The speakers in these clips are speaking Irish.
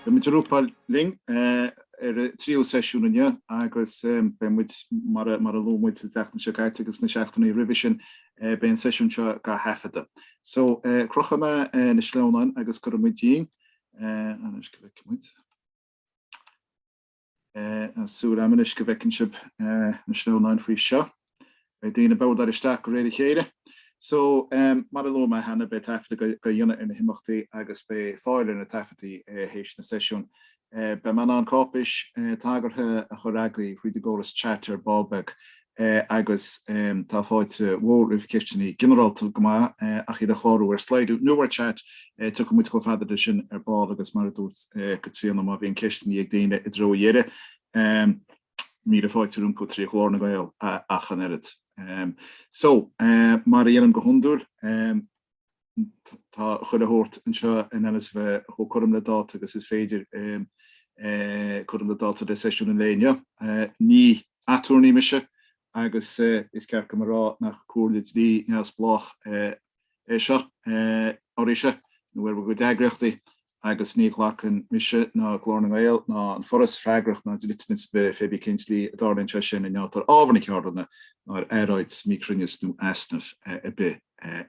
Tá muid ag rúpáil linn ar an tríú seisiún inniu agus beidh muid, mar a luaigh muid an tseachtain seo caite agus na seachtainí roimhe sin, beidh an seisiún seo dhá thaifeadadh. So, crochfaidh mé na sleamhnáin agus cuirfidh muid dínn. Anois, cliceann muid. Súil agam anois go bhfeiceann sibh na sleamhnáin faoi seo. Beidh daoine beo dar isteach de réir a chéile. So, mar a luaigh mé cheana, beidh taifeadadh dhá dhéanamh ar na himeachtaí agus beidh fáil ar na taifeadtaí théis na seisiún. Beidh mé in ann cáipéis tagartha a chur agaibh tríd an gcóras chat ar ball beag. agus tá fáilte mhór roimh cheisteanna ginearálta go maith ach iad a chlárú ar Slido nó ar chat. Tiocfaidh muid chomh fada leis sin ar ball agus mar a dúirt Caitríona má bhíonn ceisteanna ag daoine i dtreo an deiridh míle fáilte rompu trí Ghlór na nGael ach an oiread. So mar a dhéanaim go hiondúil. tá chuile shórt anseo in ainm is a bheith chomh cothrom le dáta agus is féidir cothrom le dáta le seisiún an lae inniu. Ní aturnae mise agus is ceart dom a rá nach comhairle dlí neamhspleách é seo oraibhse nó ar bhur gcuid eagraíochtaí agus ní ghlacann mise ná Glór na nGael ná an Foras freagracht ná dliteanas ar bith pé bith cén tslí a dtarlaíonn sé sin i ngeall ar ábhar na ceardlanna nó ar earráid míchruinneas nó easnamh ar bith.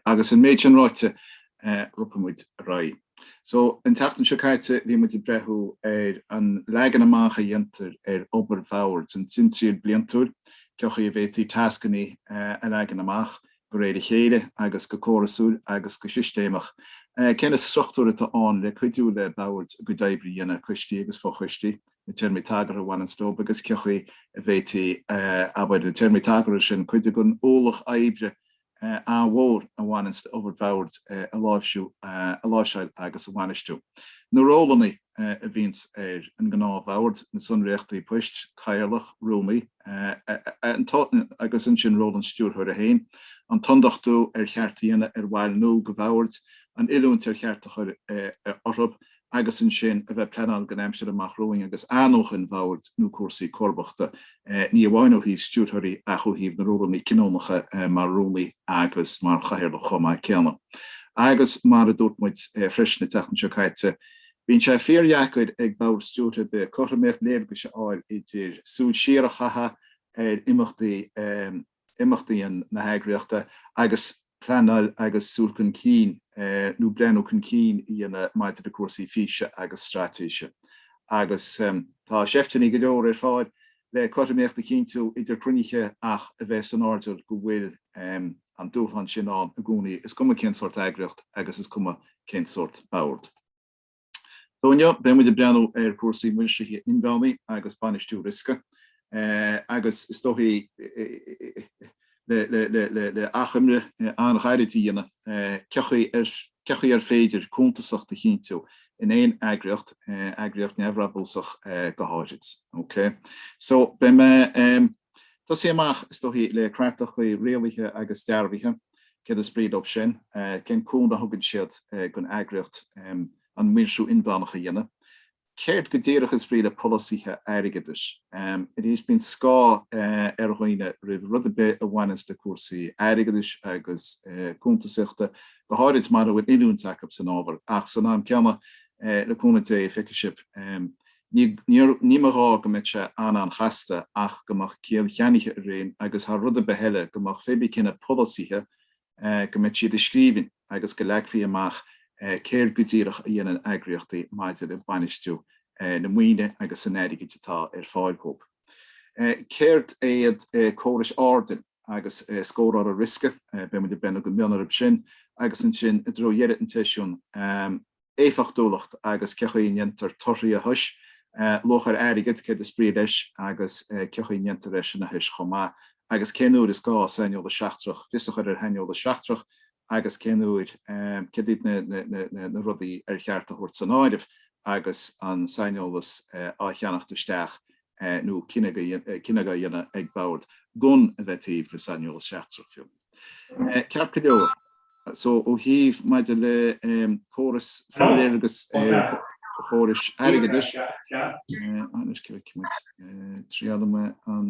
Agus an méid sin ráite ropfaidh muid ar aghaidh. So, an tseachtain seo caite bhí muid ag breathnú ar an leagan amach a dhéantar ar obair bhoird, an timthriall bliantúil, cén chaoi a bhféadfaí tascanna a leagan amach de réir a chéile agus go córasúil agus go sistéamach. Cé na struchtúir atá ann le cuidiú le boird a gcuid oibre a dhéanamh, coistí agus fo-choistí, na téarmaí tagartha a bhaineanns dóibh agus cé chaoi a bhféadfaí, abair, na téarmaí tagartha sin cuid den ualach oibre an-mhór a bhaineanns le obair bhoird a láimhsiú, a láimhseáil agus a bhainistiú? Na rólanna. a bhíonns ar an ngnáthbhord, na sonraíochtaí poist, cathaoirleach, rúnaí, agus ansin ról an stiúrthóra féin, an t-ionduchtú ar cheart a dhéanamh ar bhaill nua de bhord, an oiliúint ar cheart a chur orthu, agus ansin a bheith pleanáil don aimsir amach romhainn agus athnuachan bhoird nó cúrsaí comharbachta, ní amháin ó thaobh stiúrthóirí ach ó thaobh na rólanna cinniúnacha mar rúnaí agus mar chathaoirleach chomh maith céanna. Agus mar a dúirt muid freisin an tseachtain seo caite, Bíonn sé fíordheacair ag ball stiúrtha ar bith cothromaíocht léargas a fháil idir súil siar a chaitheamh ar imeachtaí imeachtaí na heagraíochta agus pleanáil agus súil chun cinn nó breathnú chun cinn a dhéanamh maidir le cúrsaí físe agus straitéise agus tá seifteanna go leor ar fáil le cothromaíocht a chinntiú idir cruinnithe ach a bheith san airdeall go bhfuil an dúshlán sin ann i gcónaí, is cuma cén sórt eagraíocht agus is cuma cén sórt bord. So inniu, beidh muid ag breathnú ar chúrsaí maoirsithe inmheánaí agus bainistiú riosca agus is dóichí le achoimre an-ghairid a dhéanamh cén chaoi ar féidir cuntasacht a chinntiú in aon eagraíocht, eagraíocht neamhbhrabúsach go háithrid. Okay? So beidh mé. tosaí amach, is dóichí, le creatlacha rialaithe agus dearbhaithe, céard is brí dóibh sin, cén cúnamh a thugann siad don eagraíocht an maoirsiú inmheánach a dhéanamh, céard go díreach is brí le polasaithe airgeadais. Arís, bíonn scáth ar dhaoine roimh rud ar bith a bhaineas le cúrsaí airgeadais agus cuntasaíochta, go háirid mura bhfuil oiliúint acu san ábhar, ach san am céanna, le cúnamh Dé, feicfidh sibh. Ní mba ghá go mbeadh sé an-an-chasta ach go mbeadh ciall cheannaithe ag roinnt agus, thar rud ar bith eile, go mbeadh faoi bhun chuile polasaithe, go mbeadh siad i scríbhinn agus go leagfaí amach céard go díreach a dhéanann eagraíochtaí maidir le bainistiú na maoine agus an airgid atá ar fáil dhób. Céard iad córais airdill? agus scóráil ar riosca, beidh muid ag breathnú go mion orthu sin agus ansin i dtreo dheireadh an tseisiúin, éifeachtúlacht agus cén chaoi a ndéantar torthaí a thois, luach ar airgead, céard is brí leis agus cén chaoi a ndéantar é sin a thois chomh maith agus cén uair is gá saineolas seachtrach, fios a chur ar shaineolas seachtrach agus cén uair, céard iad na rudaí ar cheart a thabhairt san áireamh agus an saineolas á cheannacht isteach nó cinneadh á dhéanamh ag bord gan a bheith taobh le saineolas seachtrach fiú. Ceart go leor, so ó thaobh maidir le córas, forléargas ar chórais airgeadais, anois, cé a bheidh muid ag triail an.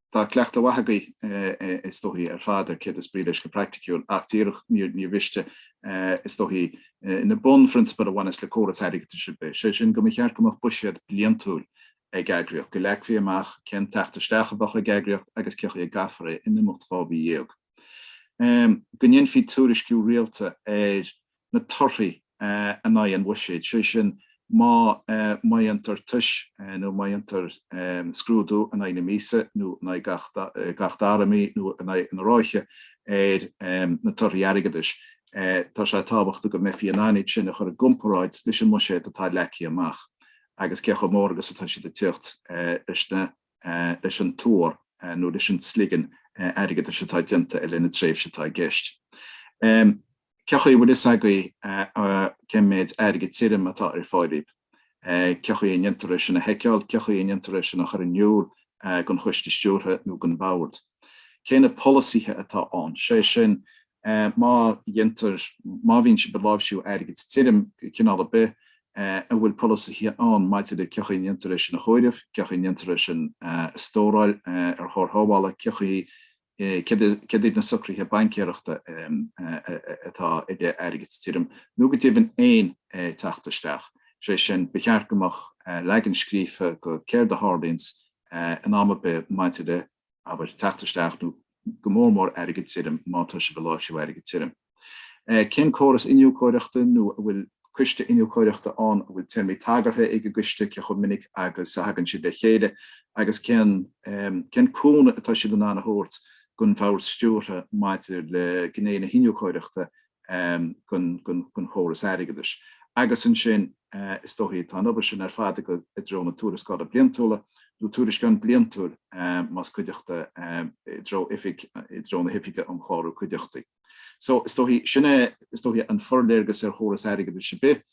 Tá cleachtadh maith agaibh is dóichí ar fad ar céard is brí leis go praiticiúil, ach díreach níor mhiste, is dóichí, na bunphrionsabail a bhaineas le córas airgeadais ar bith, sé sin, go mba cheart go mbeadh buiséad bliantúil ag eagraíocht, go leagfaí amach cén teacht isteach a bheadh ag eagraíocht agus cén chaoi a gcaithfear é in imeacht dhá mhí dhéag, go ndéanfaí tuairisciú rialta ar. na torthaí in aghaidh an bhuiséid, sé sin má dhéantar tis nó má dhéantar scrúdú in aghaidh na míosa nó in aghaidh gach dara mí nó in aghaidh an ráithe ar na torthaí airgeadais, tá sé tábhachtach go mbeifí in ann iad sin a chur i gcomparáid leis an mbuiséad atá leagtha amach agus cé chomh mór agus atá siad ag teacht leis na leis an tuar nó leis an tsligean airgeadais atá déanta i leith na tréimhse atá i gceist. Cé chaoi a bhfuil fhios agaibh cén méid airgid tirim atá ar fáil daoibh? Cé chaoi a ndéantar é sin a sheiceáil? Cé chaoi a ndéantar é sin a chur in iúl don choiste stiúrtha nó don bhord? Cé na polasaithe atá ann? Sé sin, má déantar, má bhíonn siad ag láimhsiú airgid tirim de chineál ar bith, an bhfuil polasaithe ann maidir le cé chaoi a ndéantar é sin a chomhaireamh, cé chaoi a ndéantar é sin a stóráil ar chóir shábhála, cé chaoi, céard iad na socruithe baincéireachta atá ag airgead tirim, nó go deimhin aon teacht isteach. Sé sin, ba cheart go mbeadh leagan scríofa de céard a tharlaíonns in am ar bith maidir le. abair, teacht isteach nó go mór mór airgead tirim má tá sibh ag láimhsiú airgid tirim. Cén córas iniúchóireachta nó an bhfuil coiste iniúchóireachta ann an bhfuil téarmaí tagartha ag an gcoiste cé chomh minic agus a thagann siad le chéile agus cén cén cúnamh atá siad in ann a thabhairt don bhord stiúrtha maidir le gné na hiniúchóireachta den chóras airgeadais. Agus ansin is dóichí tá an obair sin ar fad ag dul i dtreo na tuarascála bliantúla, nó tuairisceán bliantúil más cuideachta i dtreo oifig, i dtreo na hoifige um chlárú cuideachtaí. So is dóichí, sin é is dóichí an forléargas ar chóras airgeadais ar bith.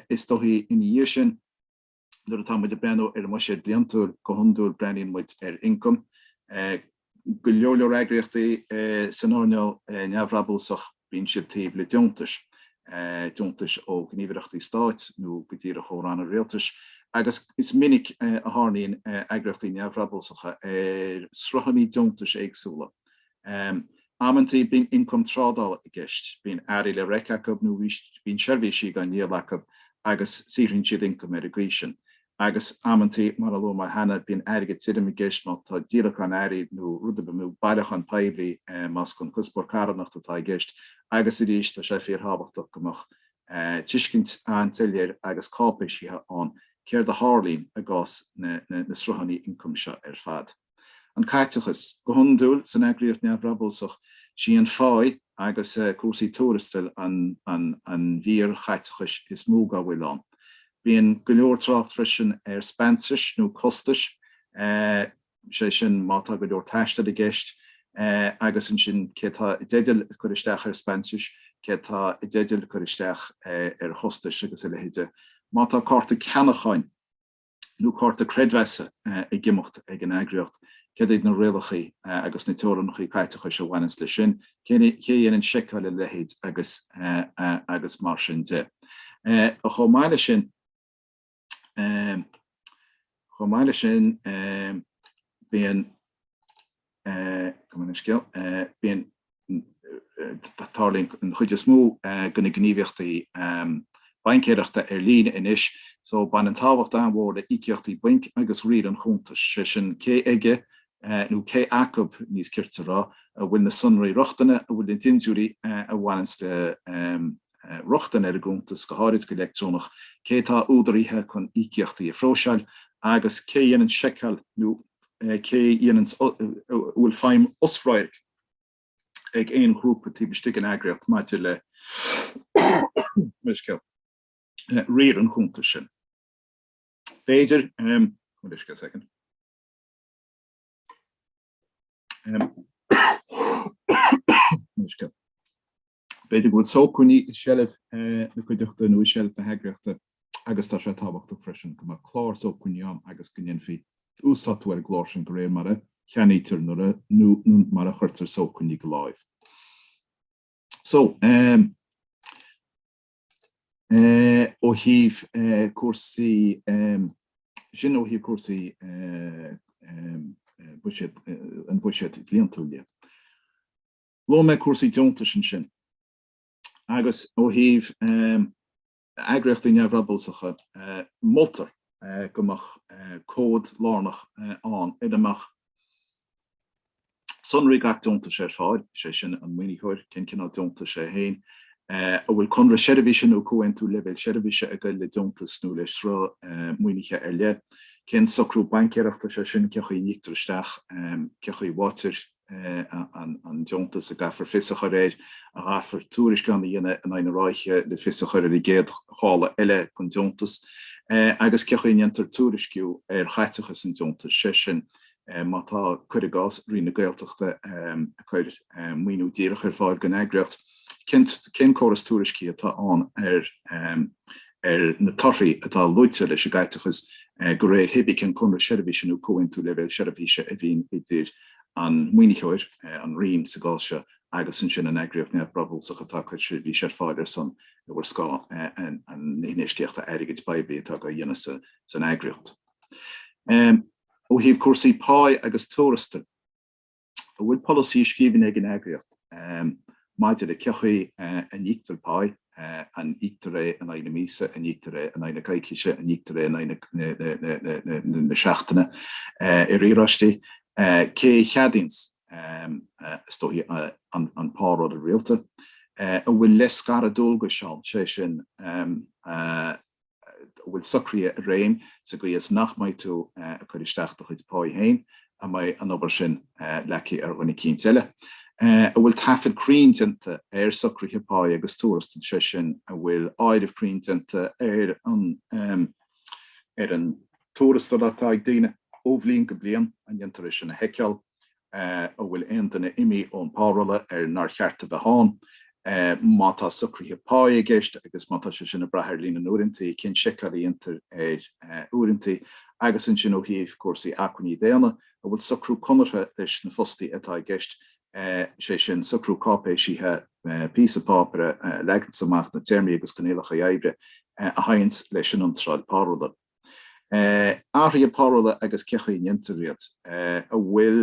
Is dóichí ina dhiaidh sin. Nuair atá muid ag breathnú ar an mbuiséad bliantúil go hiondúil breathnaíonn muid ar ioncam. Go leor leor eagraíochtaí san earnáil neamhbhrabúsach bíonn siad taobh le deontais, deontais ó ghníomhaireachtaí stáit nó go díreach ó ranna rialtais, agus is minic a tharraingíonn eagraíochtaí neamhbhrabúsacha ar sruthanna deontais éagsúla. Amantaí bíonn ioncam trádála i gceist, bíonn earraí le reic acu nó bíonn seirbhísí dhá ndíol acu agus saothraíonn siad ioncam ar an gcaoi sin. Agus amantaí, mar a luaigh mé cheana, bíonn airgead tirim i gceist má tá díolachán earraí nó rud ar bith, nó bailiúchán poiblí más chun cuspóir carthanachta atá i gceist. Agus arís tá sé fíorthábhachtach go mbeadh tuiscint an-soiléir agus cáipéisithe ann céard a tharlaíonn i gcás na sruthanna ioncaim seo ar fad. An caiteachas. Go hiondúil, san eagraíocht neamhbhrabúsach, sí an pháigh agus cúrsaí tuarastail an mhír chaiteachais is mó dá bhfuil ann. Bíonn go leor trácht freisin ar speansais nó costais, sé sin má tá go leor taistil i gceist, agus ansin cé tá i dteideal cur isteach ar speansais, cé tá i dteideal cur isteach ar chostais agus a leithéide. Má tá cárta ceannacháin. nó cárta creidmheasa i gcuimeacht ag an eagraíocht, cad iad na rialachaí agus na teorannachaí caiteachais a bhaineas leis sin, cé a dhéanann seiceáil a leithéide agus mar sin de. Chomh maith leis sin, chomh maith leis sin, bíonn. Go scéal bíonn tarlaíonn an chuid is mó de na gníomhaíochtaí baincéireachta ar líne anois so baineann tábhacht an-mhór le íocaíochtaí bainc agus riar an chuntais, sé sin cé aige nó cé acab, níos cirte a rá, a bhfuil na sonraí rochtana, a bhfuil na dindiúirí a bhaineanns le rochtain ar an gcuntas, go háirid go leictreonach, cé atá údaraithe chun íocaíochtaí a phróiseáil agus cé a dhéanann seiceáil nó. cé dhéanann an bhfuil feidhm osradhairc ag aon ghrúpa taobh istigh den eagraíocht maidir le riar an chuntais sin. B'fhéidir B'fhéidir go bhfuil sócmhainní i seilbh na cuideachta nó i seilbh na heagraíochta agus tá sé tábhachtach freisin go mbeadh clár sócmhainní ann agus go ndéanfaí uasdátú ar an gclár sin de réir mar a cheannaítear nó mar a chuirtear sócmhainní de láimh. So ó thaobh sin ó thaobh cúrsaí an bhuiséid bhliantúil de. Luaigh mé cúrsaí deontais ansin agus ó thaobh eagraíochtaí neamhbhrabúsacha, moltar go mbeadh comhad lárnach ann ina mbeadh sonraí gach deontais ar fáil, sé sin an maoinitheoir, cén cineál deontais é héin, an bhfuil conradh seirbhíse nó comhaontú leibhéal seirbhíse ag goil le deontas nó le sruth maoinithe ar leith, cén socrú baincéireachta sé sin, cé chaoi a n-íoctar isteach, cé chaoi a bhfaightear an deontas a gcaithfear fios a chur air, a gcaithfear tuairisceán a dhéanamh in aghaidh na ráithe le fios a chur ar an gcéad ghála eile den deontas, agus cé chaoi a ndéantar tuairisciú ar chaiteachas an deontais, sé sin, má tá, cuir i gcás, Roinn na Gaeltachta ag cur maoiniú díreach ar fáil don eagraíocht, cén córas tuairiscithe atá ann ar na torthaí atá luaite leis an gcaiteachas de réir hé bith cén conradh seirbhíse nó comhaontú leibhéal seirbhíse a bhíonn idir an maoinitheoir, an Roinn sa gcás seo, agus ansin an eagraíocht neamhbhrabúsach atá ag cur seirbhíse ar fáil ar son nó ar scáth na hinfheistíochta airgid phoiblí atá á dhéanamh san eagraíocht. Ó thaobh cúrsaí páí agus tuarastail, an bhfuil polasaí i scríbhinn ag an eagraíocht? Maidir le cé chaoi a n-íoctar páí, an íoctar é in aghaidh na míosa, an íoctar é in aghaidh na coicíse, an íoctar é in aghaidh na seachtaine, i riaráistí, cé a cheadaíonns, is dóichí, an párolla rialta, an bhfuil leithscaradh dualgais ann, sé sin, an bhfuil socruithe i réim, sa gcaoi is nach mbeidh tú ag cur isteach do chuid páí féin, an mbeidh an obair sin leagtha ar dhuine eicínt eile, an bhfuil taifead cruinn déanta ar socruithe páí agus tuarastail, sé sin, an bhfuil áireamh cruinn déanta ar an tuarastal atá ag daoine ó bhliain go bliain, an ndéantar é sin a sheiceáil, An bhfuil aon duine imithe ón bpárolla ar nár cheart a bheith ann? Má tá socruithe pá i gceist agus má tá sé sin ag brath ar líon na n-uaireantaí, cén seiceáil a dhéantar ar uaireantaí agus ansin ó thaobh cúrsaí acmhainní daonna, an bhfuil socrú conartha leis na fostaithe atá i gceist, sé sin, socrú cáipéisithe, píosa páipéar a leaganns amach na téarmaí agus coinníollacha oibre a théanns leis an iontráil párolla? Athruithe párolla agus cé chaoi a ndéantar iad. An bhfuil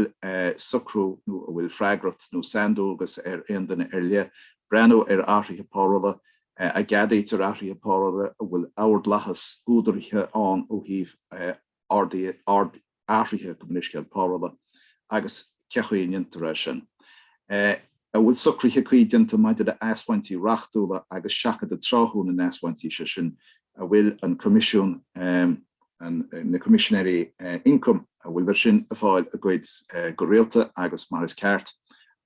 socrú nó an bhfuil freagracht nó saindualgas ar aon duine ar leith breathnú ar athruithe párolla? An gceadaítear athruithe párolla? An bhfuil ordlathas údaraithe ann ó thaobh? athruithe go mini-scéal párolla agus cé chaoi a ndéantar é sin. e An bhfuil socruithe cuí déanta maidir le asbhaintí reachtúla agus seachadadh tráthúil na n-asbhaintí, sé sin an bhfuil an Coimisiún, na Coimisinéirí Ioncaim, an bhfuil siad sin ag fáil a gcuid go rialta agus mar is ceart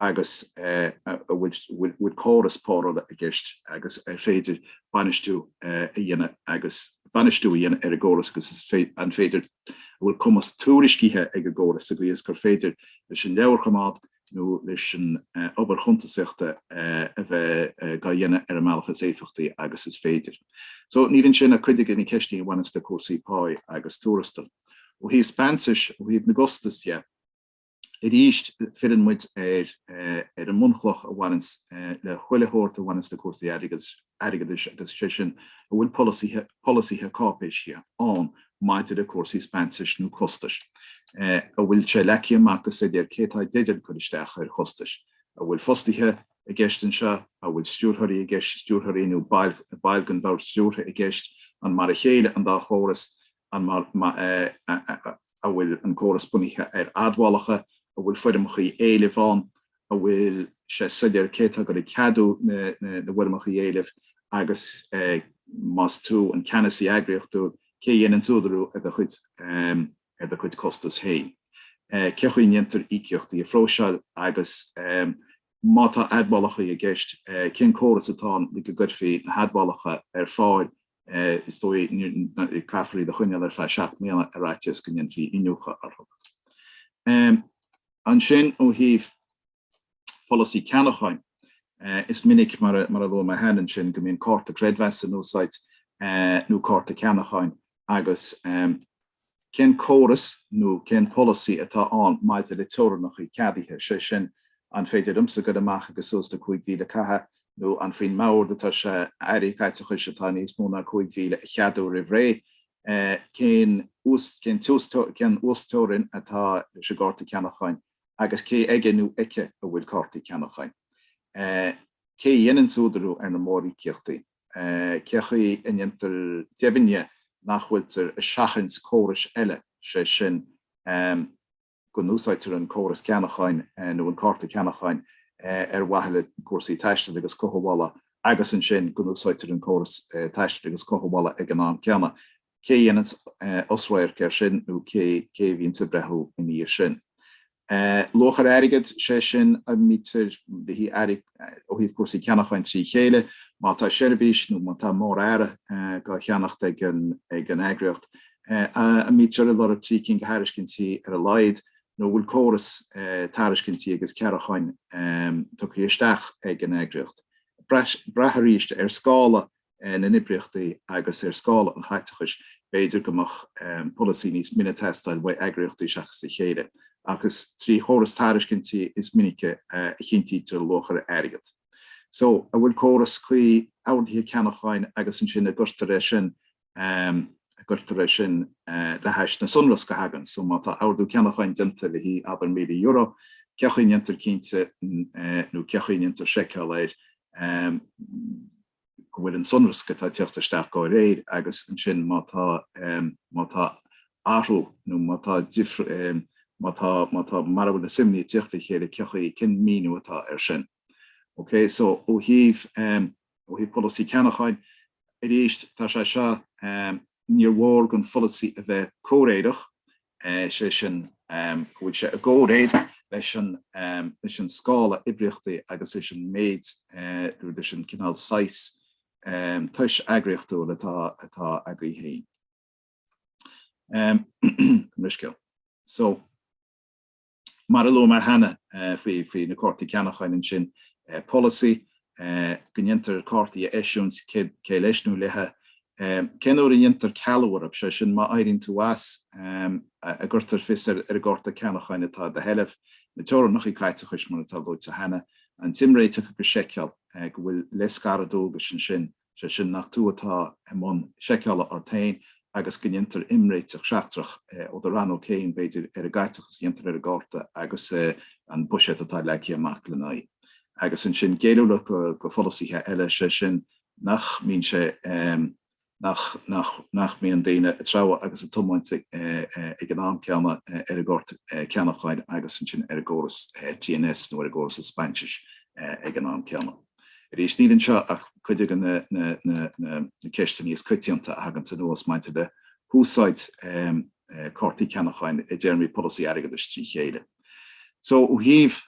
agus an bhfuil córas párolla i gceist agus an féidir bainistiú a dhéanamh agus bainistiú a dhéanamh ar an gcóras agus an féidir an bhfuil cumas tuairiscithe ag an gcóras sa gcaoi is gur féidir leis an leabharchoimeád nó leis an obair chuntasaíochta a bheith dá dhéanamh ar an mbealach is éifeachtaí agus is féidir. So níl ansin ach cuid de na ceisteanna a bhaineas le cúrsaí páí agus tuarastail. Ó thaobh speansais, ó thaobh na gcostas dhe, Arís, filleann muid ar an mbunchloch a bhaineann le chuile shórt a bhaineann le cúrsaí airgeadais agus sé sin an bhfuil polasaí cáipéisithe ann maidir le cúrsaí speansais nó costais? An bhfuil sé leagtha amach go soiléir cé atá i dteideal cur isteach ar chostais? An bhfuil fostaithe i gceist anseo? An bhfuil stiúrthóirí i gceist, stiúrthóirí nó baill den bhord stiúrtha i gceist? An mar a chéile an dá chóras? An a bhfuil an córas bunaithe ar admhálacha? An bhfuil foirmeacha éilimh ann? An bhfuil sé soiléir cé atá ag ceadú na bhfoirmeacha éilimh agus más tú an ceannasaí eagraíochtúil cé a dhéananns údarú ar do chuid costas féin? Cé chaoi a ndéantar íocaíochtaí a phróiseáil agus má tá admhálacha i gceist cén córas atá ann le go gcuirfí na hadmhálacha ar fáil is dóigh caithfear iad a choinneáil ar feadh seacht mbliana ar fhaitíos go ndéanfaí iniúchadh orthu. Ansin ó thaobh pholasaí ceannacháin, is minic, mar a luaigh mé cheana, ansin go mbíonn cárta creidmheasa in úsáid nó cárta ceannacháin agus, Cén córas nó cén polasaí atá ann maidir le teorannacha ceadaithe, sé sin, an féidir liomsa goil amach agus suas le cúig mhíle a chaitheamh nó an faoin mbord atá sé aon chaiteachas atá níos mó ná cúig mhíle a cheadú roimh ré? Cén uasteorainn atá leis an gcárta ceannacháin agus cé aige nó aici a bhfuil cártaí ceannacháin? Cé a dhéananns údarú ar na mór-íocaíochtaí? Cé chaoi a ndéantar deimhne nach bhfuiltear ag seachaint córais eile, sé sin go n-úsáidtear an córas ceannacháin nó an cárta ceannacháin ar mhaithe le cúrsaí taistil agus cothabhála agus ansin go n-úsáidtear an córas taistil agus cothabhála ag an am céanna? Cé a dhéananns osradharc ar sin nó cé a bhíonns ag breathnú ina dhiaidh sin? Luach ar airgead, sé sin an mbítear dá bhaint ó thaobh cúrsaí ceannacháin trí chéile. Má tá seirbhís nó má tá mór earra dhá cheannacht ag an eagraíocht, an mbítear ag lorg trí cinn de thairiscintí ar a laghad nó an bhfuil córas tairiscintí agus ceannacháin tugtha isteach ag an eagraíocht? Braitheann arís ar scála na n-oibríochtaí agus ar scála an chaiteachais, b'fhéidir go mbeadh polasaí níos mine ag teastáil uaidh eagraíochtaí seachas a chéile, ach is trí chóras tairiscintí is minice a chinntítear luach ar airgead. Só, an bhfuil córas cuí orduithe ceannacháin agus ansin an gcuirtear é sin le hais na sonrasc a thagann? Só, má tá ordú ceannacháin déanta le haghaidh, abair, €1,000, cé chaoi ndéantar cinnte nó cé chaoi ndéantar seiceáil air, go bhfuil an sonrasc atá ag teacht isteach dá réir agus ansin má tá, má tá athrú nó má tá difr, má tá, má tá, mara bhfuil na suimeanna ag teacht le chéile cé acu é, cén míniú atá ar sin. OK, so ó thaobh, ó thaobh polasaí ceannacháin, arís tá sé seo, níor mhór don pholasaí a bheith comhréireach, is é sin go bhfuil sé i gcomhréir leis an scála oibríochtaí agus leis an méid, nó leis an gcineál saghas tois eagraíochtúil atá ag eagraíocht faoi scéal. Mar a luaigh mé cheana faoi na cártaí ceannacháin ansin, polasaí go ndéantar cártaí a eisiúint cé leis nó léithe. Cén uair a ndéantar cealú orthub? Sé sin, má éiríonn tú as, an gcuirtear fios ar an gcárta ceannacháin atá i do sheilbh, na teorainneacha caiteachais mar atá luaite cheana, an t-imréiteach agus seiceáil go bhfuil leithscaradh dualgais ansin. sé sin nach tú atá i mbun seiceála ort féin agus go ndéantar imréiteach seachtrach ó do rannóg féin, b'fhéidir, ar an gcaiteachas a dhéantar ar an gcárta agus an buiséad atá leagtha amach lena aghaidh. Agus ansin géilliúlacht do pholasaithe eile, sé sin nach mbíonn sé, nach mbíonn daoine ag treabhadh agus ag tiomáint ag an am céanna ar an gcárta ceannacháin agus ansin ar an gcóras TNS nó ar an gcóras expenses ag an am céanna. Arís, níl anseo ach cuid de na ceisteanna is coitianta a thaganns anuas maidir le húsáid cártaí ceannacháin i dtéarmaí polasaí airgeadais trí chéile. So ó thaobh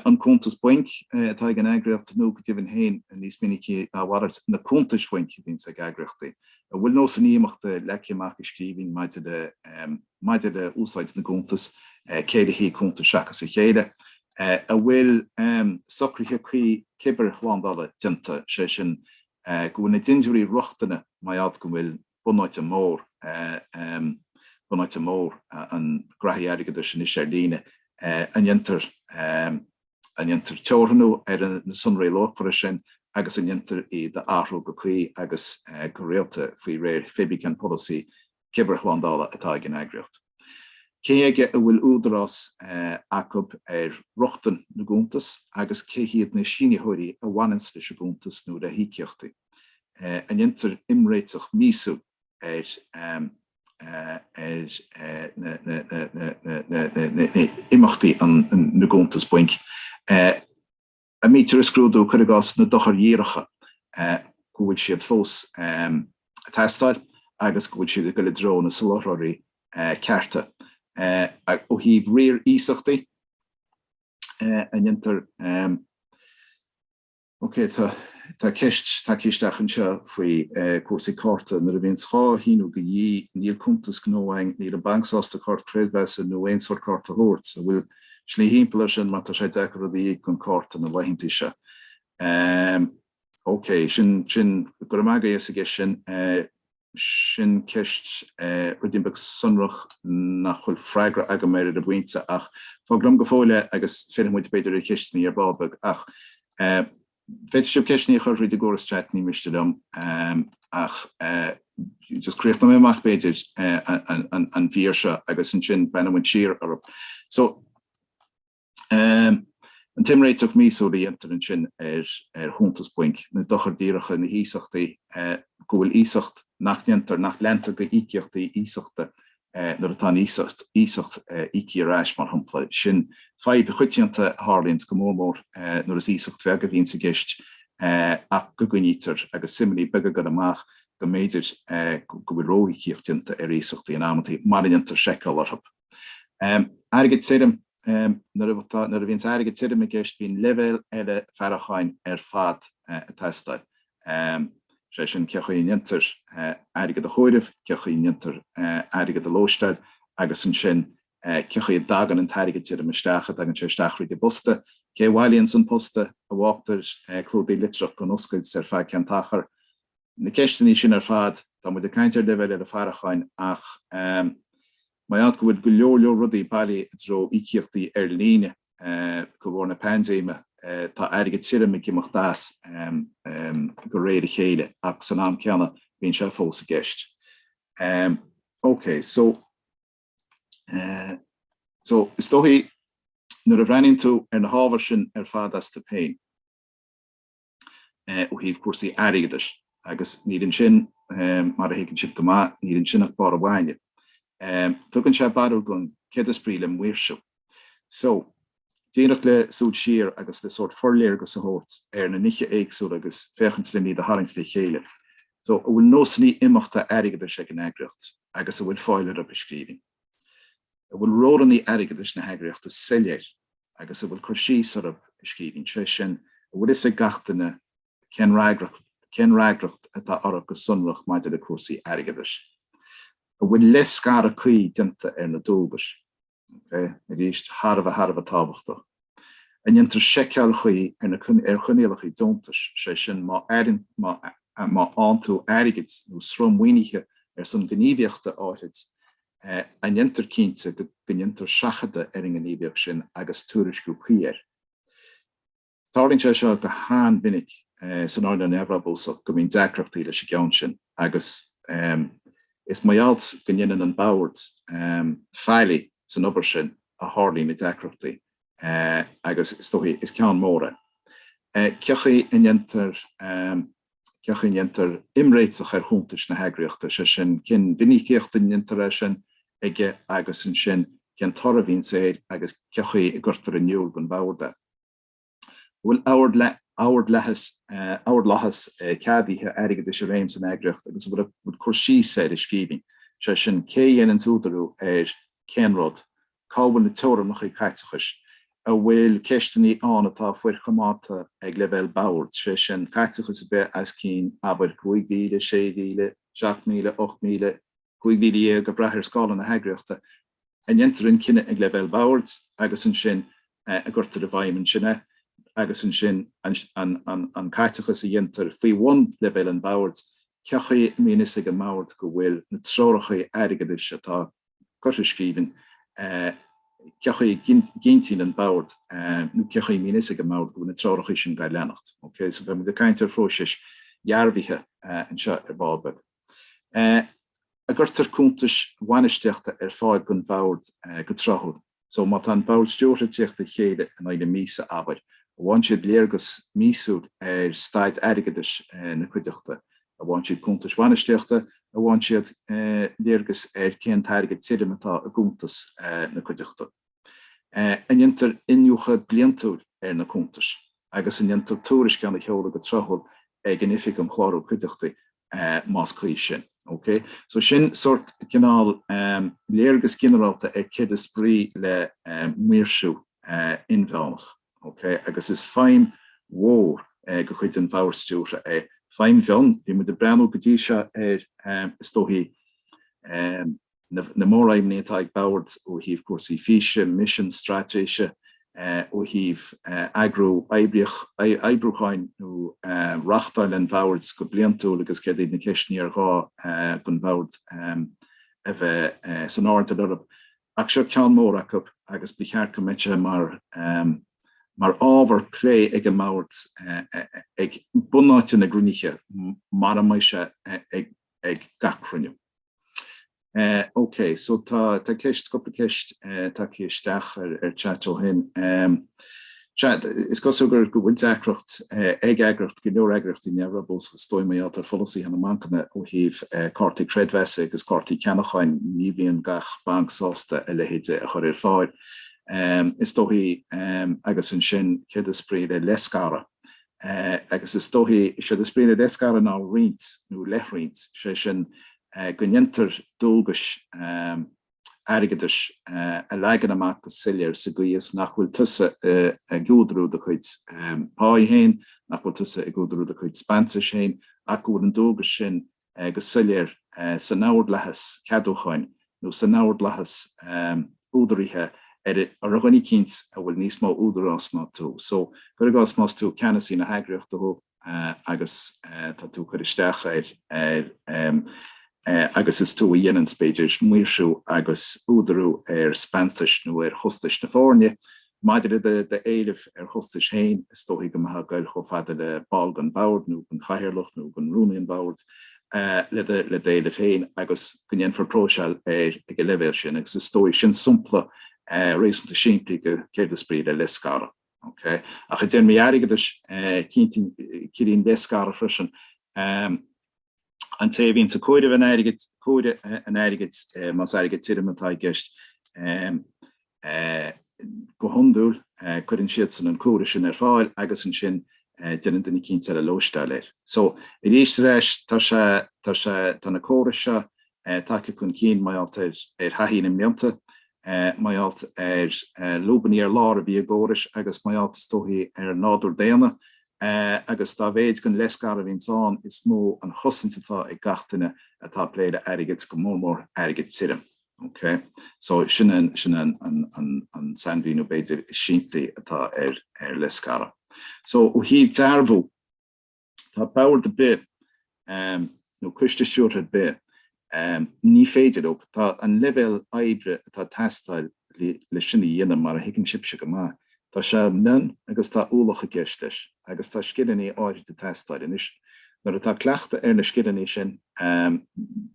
an cuntas bainc atá ag an eagraíocht nó go deimhin féin níos minicí ná a mhalairt na cuntais bhainc a bhíonns ag eagraíochtaí, an bhfuil nósanna imeachta leagtha amach i scríbhinn maidir le. maidir le úsáid na gcuntas, cé le haghaidh cuntas seachas a chéile, an bhfuil socruithe cuí cibearshlándála déanta, sé sin go bhfuil na dindiúirí rochtana mar gheall go bhfuil bunáite mór, bunáite mór na ngraithí airgeadais anois ar líne, an ndéantar, an ndéantar teorannú ar na sonraí luachmhara sin agus an ndéantar iad a athrú go cuí agus go rialta faoi réir pé ar bith cén polasaí cibearshlándála atá ag an eagraíocht? Cé aige a bhfuil údarás acub ar rochtain na gcuntas agus cé hiad na sínitheoirí a bhaineanns leis an gcuntas nó le híocaíochtaí? An ndéantar imréiteach míosúil ar imeachtaí na gcuntas bainc? a mbítear ag scrúdú, cuir i gcás, na dochair dhíreacha, go bhfuil siad fós ag teastáil agus go bhfuil siad ag dul i dtreo na soláthraithe cearta. Ó thaobh riar iasachtaí an ndéantar, okay, tá ceist isteach anseo faoi cúrsaí cárta. Nuair a bhíonns dhá shíniú de dhíth, níl cuntas gnó againn, níl an banc sásta cárta creidmheasa nó aon sórt cárta a thabhairt. An bhfuil Slí thimpeall ar sin mar tá sé deacair rud a íoc gan cárta na laethanta seo. OK, sin. Go raibh maith agat as an gceist sin. Sin ceist rud éigin beag sonrach nach bhfuil freagra agam air ar an bpointe ach fág liom go fóill é agus fillfimid b'fhéidir ar cheisteanna ar ball beag ach eh, Féadfaidh sibh ceisteanna a chur thríd an gcóras chat, ní miste liom, ach just críochnóidh mé amach b'fhéidir an mhír seo agus ansin breathnóidh muid siar orthu. So An t-imréiteach míosúil a dhéantar ansin ar chuntas bainc, na dochair díreacha, na hiasachtaí go bhfuil iasacht nach ndéantar, nach leantar de íocaíochtaí iasachta eh, nuair atá an iasacht eh, íoctha ar ais, mar shampla. Sin fadhb choitianta a tharlaíonn 's go mór mór eh, nuair is iasacht bheag a bhíonns i gceist eh, ach go gcoinnítear agus suimeannaí beaga ag goil amach go mb'fhéidir eh, go bhfuil ró-íocaíocht déanta ar iasachtaí in amantaí mara ndéantar seiceáil orthu. Em, airgead tirim, em, nuair atá, nuair a bhíonns airgead tirim i gceist bíonn leibhéal eile faireacháin ar fad eh, ag teastáil. is é sin cé chaoi a ndéantar airgead a chomhaireamh, cé chaoi a ndéantar airgead a lóisteáil agus ansin cé chaoi a dtagann an t-airgead tirim isteach, an dtagann sé isteach thríd an bposta, cé a bhailíonn an posta, an bhfágtar clúdaigh litreach gan oscailt ar feadh cén t-achar. Na ceisteanna sin ar fad, tá muid ag caint ar leibhéal ard faireacháin ach Má tá go bhfuil go leor leor rudaí bailithe i dtreo íocaíochtaí ar líne de bharr na paindéime. Tá airgead tirim ag imeacht as de réir a chéile ach san am céanna bíonn sé fós i gceist. OK so so is dóigh nuair a bhreathnaíonn tú ar na hábhair sin ar fad as do féin, ó thaobh cúrsaí airgeadais agus níl ansin, mar a thuigeann sibh go maith, níl ansin ach barr an bhaile. Tugann sé barúil dhúinn céard is brí le maoirsiú. So, díreach le súil siar agus le sórt forléargas a thabhairt ar na nithe éagsúla agus féachaint le n-iad a tharraingt le chéile. So, an bhfuil nósannaí imeachta airgeadais ag an eagraíocht agus an bhfuil fáil orthu i scríbhinn? An bhfuil rólannaí airgeadais na heagraíochta soiléir agus an bhfuil cur síos orthu i scríbhinn, sé sin, an bhfuil fhios ag gach duine cén fhreagracht atá orthu go sonrach maidir le cúrsaí airgeadais? An bhfuil leithscaradh cuí déanta ar na dualgais? Arís, thar a bheith, thar a bheith tábhachtach. a ndéantar seiceáil chuí ar choinníollacha deontais, sé sin, má fhaigheann tú airgead nó sruth maoinithe ar son gníomhaíochta áithrid, an ndéantar cinnte go ndéantar seachadadh ar an ngníomhaíocht sin agus tuairisciú cuí air. Tarlaíonn sé seo go han-mhinic san earnáil neamhbhrabúsach go mbíonn deacrachtaí leis an gceann sin agus. Is maith alt go ndéanann an Bord faillí san obair sin a tharlaíonn na deacrachtaí agus is dóichí is ceann mór é. Cé chaoi a ndéantar cé chaoi a ndéantar imréiteach ar chuntais na heagraíochta, sé sin cén mhinicíocht a ndéantar é sin ag agus ansin cén toradh a bhíonns air agus cé chaoi a gcuirtear in iúl don Bhord é. An bhfuil ardlathas ceadaithe airgeadais i réim san eagraíocht agus an bhfuil cur síos air i scríbhinn, sé sin, cé a dhéananns údarú ar cén rud, cá bhfuil na teorannachaí caiteachais, an bhfuil ceisteannaí ann atá forchoimeádta ag leibhéal boird, sé sin, caiteachas a bheith as cinn, abair, 5,000, 6,000, 7,000, 8,000, 15,000 ag brath ar scála na heagraíochta a ndéantar an cinneadh ag leibhéal boird agus ansin a gcuirtear i bhfeidhm ansin é agus ansin an caiteachas a dhéantar faoi bhun leibhéal an bhoird, cé chaoi a mbíonn fhios ag an mbord go bhfuil na treoracha airgeadais atá curtha i scríbhinn, cé chaoi a gcinntíonn an bord nó cé chaoi a mbíonn fhios ag an mbord go bhfuil na treoracha sin dhá leanacht, OK. So beimid ag caint ar phróisis dhearbhaithe anseo ar ball beag. a gcuirtear cuntais bhainistíochta ar fáil don bhord go tráthúil. So má tá an bord stiúrtha ag tíocht le chéile in aghaidh na míosa, abair, a bhfaigheann siad léargas míosúil ar staid airgeadais na cuideachta, a bhfaigheann siad cuntais bhainistíochta, a bhfaigheann siad léargas ar cén t-airgead tirim atá i gcuntas na cuideachta. An ndéantar iniúchadh bliantúil ar na cuntais agus an ndéantar tuairisceán a sheoladh go tráthúil ag an Oifig um Chlárú Cuideachtaí más cuí sin. Ok? So sin sórt, cineál, léargas ginearálta ar céard is brí le maoirsiú inmheánach. Ok? Agus is feidhm mhór de chuid an bhoird stiúrtha é, feidhm mhion, bhí muid ag breathnú go dtí seo ar, is dóichí, na na móraidhmní atá ag Bord ó thaobh cúrsaí físe, misean, straitéise, ó thaobh eagrú oibríoch, oibriúcháin nó reachtáil an Bhoird go bliantúil agus céard iad na ceisteanna ar ghá don Bhord a bheith san airdeall orthu. Ach seo ceann mór acu agus ba cheart go mbeadh sé mar mar ábhar plé ag an mBord ag bunáite na gcruinnithe mura mbeidh sé ag ag gach cruinniú. Eh ok, so tá tá ceist cúpla ceist eh tacaithe isteach ar ar chat ó shin. Em sea, is cosúil gur go bhfuil deacracht eh ag eagracht go leor eagraíochtaí neamhbhrabúis is dóichí maidir le polasaithe na mbancanna ó thaobh eh cártaí creidmheasa agus cártaí ceannacháin, ní bhíonn gach banc sásta a leithéid de a chur ar fáil. Em is dóichí agus ansin céard is brí le leithscaradh? agus is dóichí, séard is brí le leithscaradh ná roinnt nó leithroinnt, sé sin go ndéantar dualgais airgeadais a leagan amach go soiléir sa gcaoi is nach bhfuil tusa ag údarú do chuid páí féin, nach bhfuil tusa ag údarú do chuid speansais féin ach go bhfuil an dualgas sin go soiléir san ordlathas ceadúcháin nó san ordlathas údaraithe ar dhuine eicínt a bhfuil níos mó údarás ná tú. So, cur i gcás, más tú ceannasaí na heagraíochta thú agus tá tú ag cur isteach ar agus is tú a dhéananns, b'fhéidir, maoirsiú agus údarú ar speansais nó ar chostais na foirne, Maidir le do éileamh ar chostais féin, is dóichí go mbeifeá ag goil chomh fada le ball den bhord nó den chathaoirleach nó den rúnaí an bhoird le d'éileamh féin agus go ndéanfar próiseáil air ag an leibhéal sin agus is dóichí sin sompla réasúnta simplí de céard is brí le leithscaradh. Ok. Ach i dtéarmaí airgeadais, ciallaíonn leithscaradh freisin. An té a bhíonn ag comhaireamh an airgid comhaireamh an airgid más airgead tirim atá i gceist go hiondúil cuireann siadsan an comhaireamh sin ar fáil agus ansin déanann duine eicínt eile lóisteáil air. So arís ar ais tá sé tá sé tá na córais seo tagtha chun cinn mar gheall ar ar thaithí na mblianta mar gheall ar lúbanna ar lár a bhí i gcórais agus mar gheall is dóichí ar nádúr daonna é agus dá mhéid den leithscaradh a bhíonns ann is mó an chosaint atá ag gach duine atá ag plé le airgead, go mór mór airgead tirim. Ok? So sin an, sin an, an, an, an sainmhíniú b'fhéidir is simplí atá ar, ar leithscaradh. So ó thaobh dearbhú, tá bord ar bith um nó coiste stiúrtha ar bith. um Ní féidir leob. Tá an leibhéal oibre atá ag teastáil le sin a dhéanamh, mar a thuigeann sibhse go maith, tá sé mion agus tá ualach i gceist leis agus tá scileanna áirid ag teastáil. Anois, nuair atá cleachtadh ar na scileanna sin, um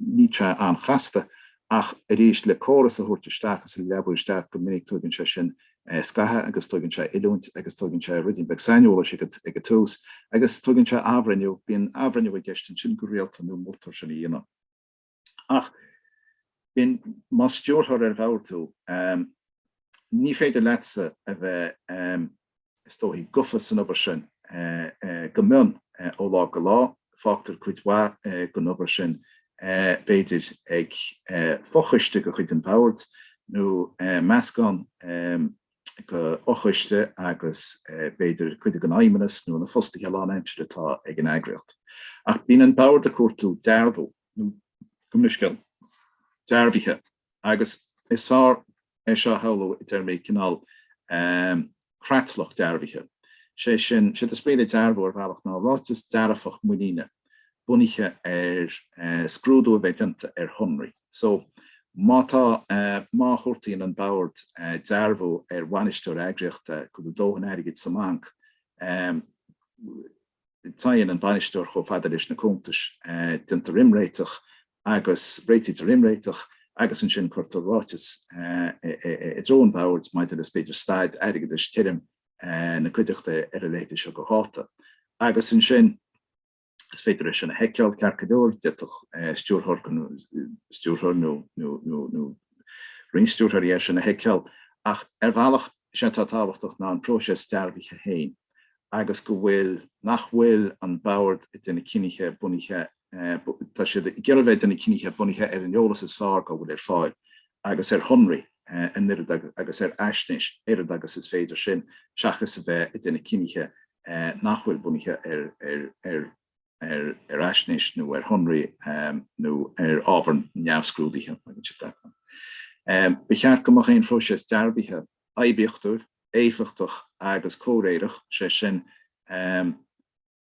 níl sé an-chasta ach arís le córas a thabhairt isteach is a leabú isteach go minic tugann sé sin scaithe agus tugann sé oiliúint agus tugann sé ruidín beag saineolais ag an tús agus tugann sé athbhreithniú, bíonn athbhreithniú i gceist ansin go rialta nó moltar sin a dhéanamh. Ach bíonn, más stiúrthóir ar bhord tú, ní féidir leatsa a bheith, is dóichí, gofa san obair sin go mion ó lá go lá. Fágtar cuid mhaith den obair sin, b'fhéidir, ag fochoiste de chuid an bhoird, nó meascán de fhochoiste agus, b'fhéidir, cuid den fheidhmeannas nó na fostaithe lánaimseartha atá ag an eagraíocht. Ach bíonn an bord ag cuartú dearbhú nó, go minic, dearbhaithe. Agus is fearr é seo a shamhlú i dtéarmaí cineál creatlach dearbhaithe, sé sin, sé do sprioc le dearbhú ar bhealach ná ráiteas dearfach muiníne bunaithe ar scrúdú a bheith déanta ar shonraí. So, má tá, má chuartaíonn an bord dearbhú ar bhainisteoir eagraíochta go bhfuil dóthain airgid sa mbanc, Téann an bainisteoir chomh fada leis na cuntais, déantar imréiteach agus réitítear imréiteach agus ansin cuirtear ráiteas i dtreo an bhoird maidir le, b'fhéidir, staid airgeadais, tirim, na cuideachta ar a leithéid seo de dháta. Agus ansin is féidir é sin a sheiceáil ceart go leor, d'fhéadfadh stiúrthóir stiúrthóir nó roinnt stiúrthóirí é sin a sheiceáil ach ar bhealach is é atá tábhachtach ná an próiseas dearbhaithe féin. agus go bhfuil, nach bhfuil an bord ag déanamh cinntí bunaithe, tá siad ag iarraidh bheith ag déanamh cinntí bunaithe ar an eolas is fearr dá bhfuil ar fáil agus ar shonraí an oiread agus ar fhaisnéis oiread agus is féidir sin seachas a bheith ag déanamh cinntí nach bhfuil bunaithe ar ar ar fhaisnéis nó ar shonraí nó ar ábhar neamhscrúdaithe. Ba cheart go mbeadh aon phróiseas dearbhaithe. oibiachtúil, éifeachtach agus comhréireach, is é sin,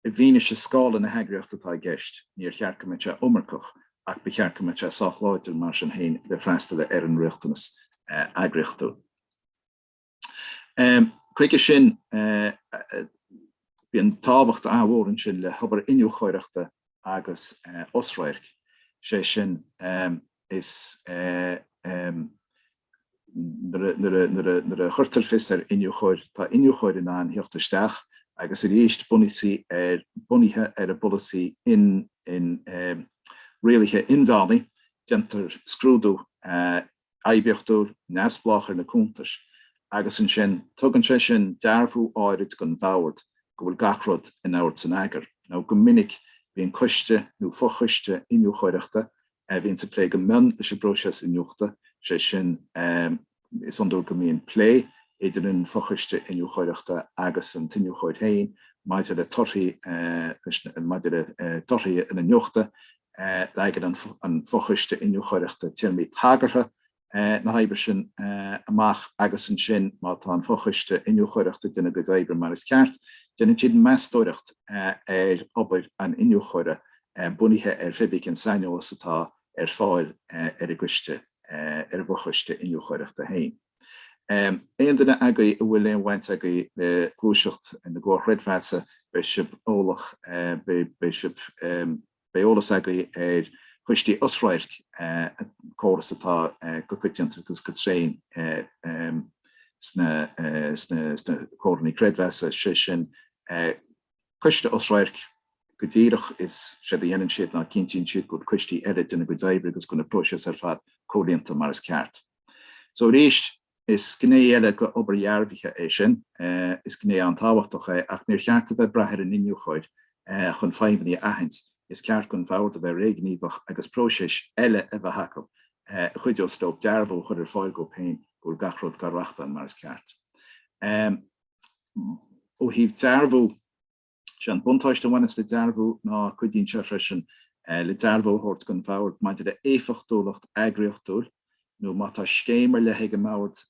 i bhfianaise scála na heagraíochta atá i gceist, níor cheart go mbeadh sé iomarcach ach ba cheart go mbeadh sé sách láidir mar sin féin le freastal ar an riachtanas eagraíochtúil. Chuige sin, bíonn tábhacht an-mhór ansin le hobair iniúchóireachta agus osradhairc, is é sin, is. Nuair a chuirtear fios ar iniúchóir, tá iniúchóir in ann theacht isteach agus arís bunaithe ar an bpolasaí rialaithe inmheánaigh déantar scrúdú oibiachtúil neamhspleách ar na cuntais agus ansin tugann sé sin dearbhú áirid don bhord go bhfuil gach rud in ord is in eagar. Nó go minic bíonn coiste nó fo-choiste iniúchóireachta a bhíonns ag plé go mion leis an bpróiseas iniúchta, sé sin, is iondúil go mbíonn plé idir an fochoiste iniúchóireachta agus an t-iniúchóir féin maidir le torthaí maidir le torthaí an iniúchta, leagann an fochoiste iniúchóireachta téarmaí tagartha na hoibre sin amach agus ansin má tá an fochoiste iniúchóireachta ag déanamh a gcuid oibre mar is ceart, déanann siad meastóireacht ar obair an iniúchóra bunaithe ar hé bí cén saineolas atá ar fáil ar an gcoiste, ar an bhfochoiste iniúchóireachta féin. Aon duine agaibh a bhfuil aon bhaint agaibh le gluaiseacht na gcomhar creidmheasa beidh sibh eolach, beidh sibh. Beidh eolas agaibh ar choistí osradhairc, córas atá go coitianta agus go tréan sna comhair chreidmheasa, sé sin, coiste osradhairc, go díreach is séard a dhéanann siad ná cinntíonn siad go bhfuil coistí eile ag déanamh a gcuid oibre agus go bhfuil na próisis ar fad comhlíonta mar is ceart. So arís, Is gné eile de obair dhearbhaithe é sin. Is gné an-tábhachtach é ach níor cheart a bheith ag brath ar an iniúchóir chun fadhbanna a aithint. Is ceart don bhord a bheith réghníomhach agus próisis eile a bheith acu a chuideos leo dearbhú a chur ar fáil dóibh féin go bhfuil gach rud á reáchtáil mar is ceart. Ó thaobh dearbhú, Is é an buntáiste a bhaineas le dearbhú ná cuidíonn sé freisin le dearbhú a thabhairt don bhord maidir le héifeachtúlacht eagraíochtúil nó má tá scéim ar leith ag an mbord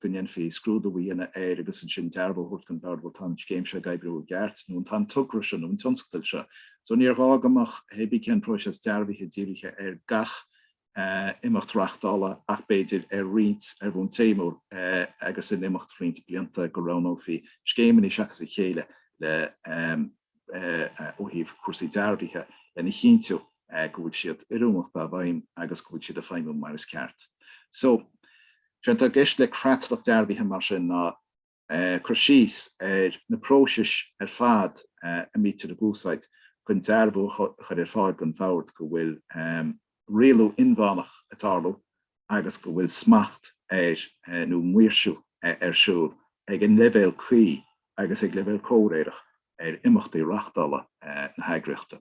go ndéanfaí scrúdú a dhéanamh air agus ansin dearbhú a thabhairt don bhord bhuel tá an scéim seo ag oibriú i gceart nó tá an togra seo nó an tionscadal seo so níor ghá go mbeadh cibé cén próiseas dearbhaithe dírithe ar gach imeacht reáchtála ach b'fhéidir ar roinnt, ar bhonn téamúil agus in imeacht roinnt blianta go roghnófaí scéimeanna seachas a chéile le ó thaobh cúrsaí dearbhaithe lena chinntiú go bhfuil siad oiriúnach dá bhfeidhm agus go bhfuil siad ag feidhmiú mar is ceart. So, sé atá i gceist le creatlach dearbhaithe mar sin ná, cur síos ar na próisis ar fad a mbítear á n-úsáid chun dearbhú a chur ar fáil don bhord go bhfuil rialú inmheánach ag tarlú agus go bhfuil smacht ar nó maoirsiú ar siúl ag an leibhéal cuí agus ag leibhéal comhréireach ar imeachtaí reáchtála na heagraíochta.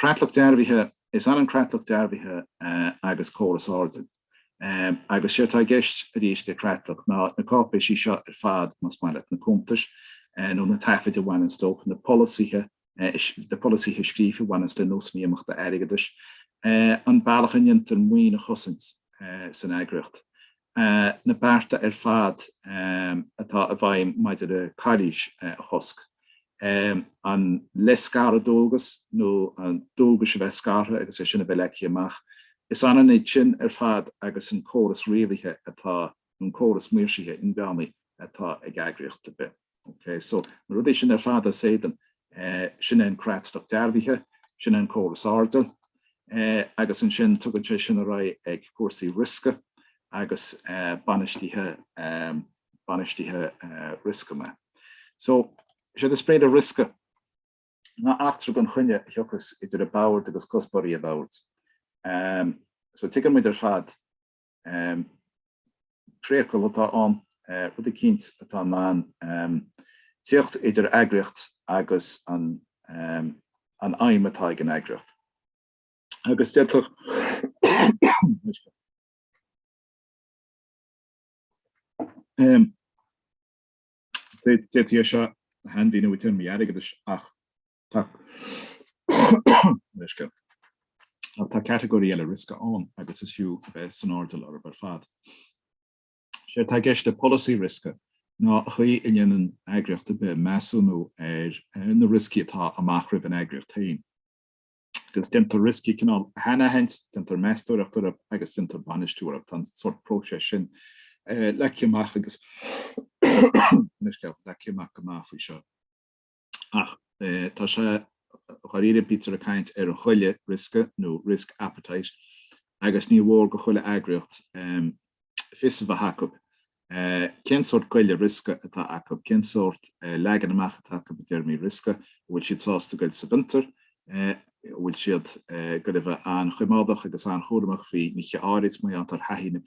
Creatlach Dearbhaithe, Is ionann creatlach dearbhaithe agus córas airdill. Agus sé atá i gceist arís le creatlach ná na cáipéisí seo ar fad, más maith leat, na cuntais nó na taifid a bhaineanns leo, na polasaithe, na polasaithe scríofa a bhaineanns le nósanna imeachta airgeadais, an bealach a ndéantar maoin a chosaint san eagraíocht, na bearta ar fad atá i bhfeidhm maidir le calaois a chosc, an leithscaradh dualgas nó an dualgais a bheith scartha agus é sin a bheith leagtha amach, is ionann iad sin ar fad agus an córas rialaithe atá nó an córas maoirsithe inmheánaigh atá ag eagraíocht ar bith. Ok, so na rudaí sin ar fad, is é atá ann, sin é an creatlach dearbhaithe, sin é an córas airdill agus ansin tugann sé sin ar aghaidh ag cúrsaí riosca agus bainistithe bainistithe riosca maith. So is éard is brí le riosca ná eachtra gan choinne a thiocfas idir an bord agus cuspóirí an bhoird. So tuigeann muid ar fad Priacal atá ann, rud eicínt atá in ann teacht idir eagraíocht agus an aidhm atá ag an eagraíocht. Agus d'fhéadfá é seo a shainmhíniú i dtéarmaí airgeadais ach Tá catagóirí eile riosca ann agus is fiú a bheith san airdeall orthub ar fad. Is é atá i gceist le polasaí riosca ná an chaoi a ndéanann eagraíocht ar bith measúnú ar na rioscaí atá amach roimh an eagraíocht féin. Agus déantar rioscaí cineáil a shainaithint, déantar meastóireacht orthu agus déantar bainistiú orthu. Tá an sórt próiseas sin leagtha amach againn go maith faoi seo. Ach tá sé dháiríre, bítear ag caint ar ghoile riosca nó risk appetite agus ní mór do chuile eagraíocht fios a bheith acub cén sórt goile riosca atá acu, cén sórt leagan amach atá acu i dtéarmaí riosca, an bhfuil siad sásta goil sa bhfiontar, an bhfuil siad ag goil a bheith an-choimeádach agus an-chúramach faoi nithe áirid, mar gheall ar thaithí na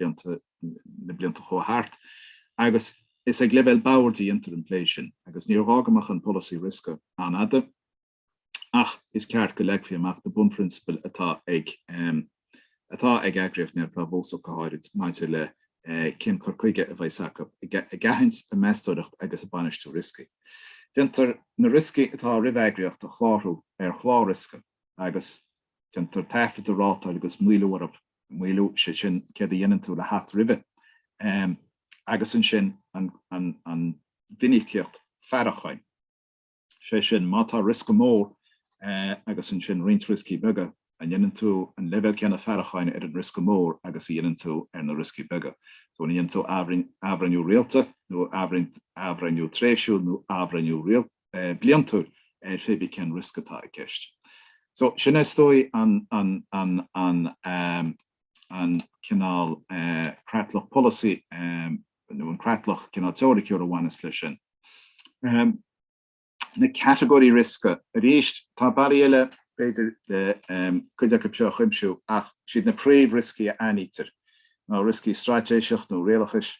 blianta a chuaigh thart agus Is ag leibhéal an bhoird a dhéantar an plé sin agus níor ghá go mbeadh an polasaí riosca an-fhada ach is ceart go leagfaí amach na bunphrionsabail atá ag atá ag eagraíocht neamhbhrabúsach go háirid maidir le cén cur chuige a bheas acu ag aithint, ag meastóireacht agus ag bainistiú rioscaí. Déantar na rioscaí atá roimh eagraíocht a chlárú ar chlár riosca agus déantar taifead de rátáil agus maolú orthub maolú, sé sin céard a dhéanann tú le theacht roimhe, agus ansin an mhinicíocht faireacháin, sé sin má tá riosca mór agus ansin roinnt rioscaí beaga, an ndéanann tú an leibhéal céanna faireacháin ar an riosca mór agus a dhéanann tú ar na rioscaí beaga. An ndéanann tú athbhreithniú rialta nó athbhreithniú tréimhsiúil nó athbhreithniú rialta? bliantúil ar pé bith cén riosca atá i gceist. So sin is dóigh an cineál creatlach polasaí nó an creatlach cineál teoiriciúil a bhaineas leis sin. Na catagóirí riosca arís, tá bealaí eile b'fhéidir le cuid acub seo a chuimsiú ach is iad na príomh-rioscaí a aithnítear ná rioscaí straitéiseach nó rialachais,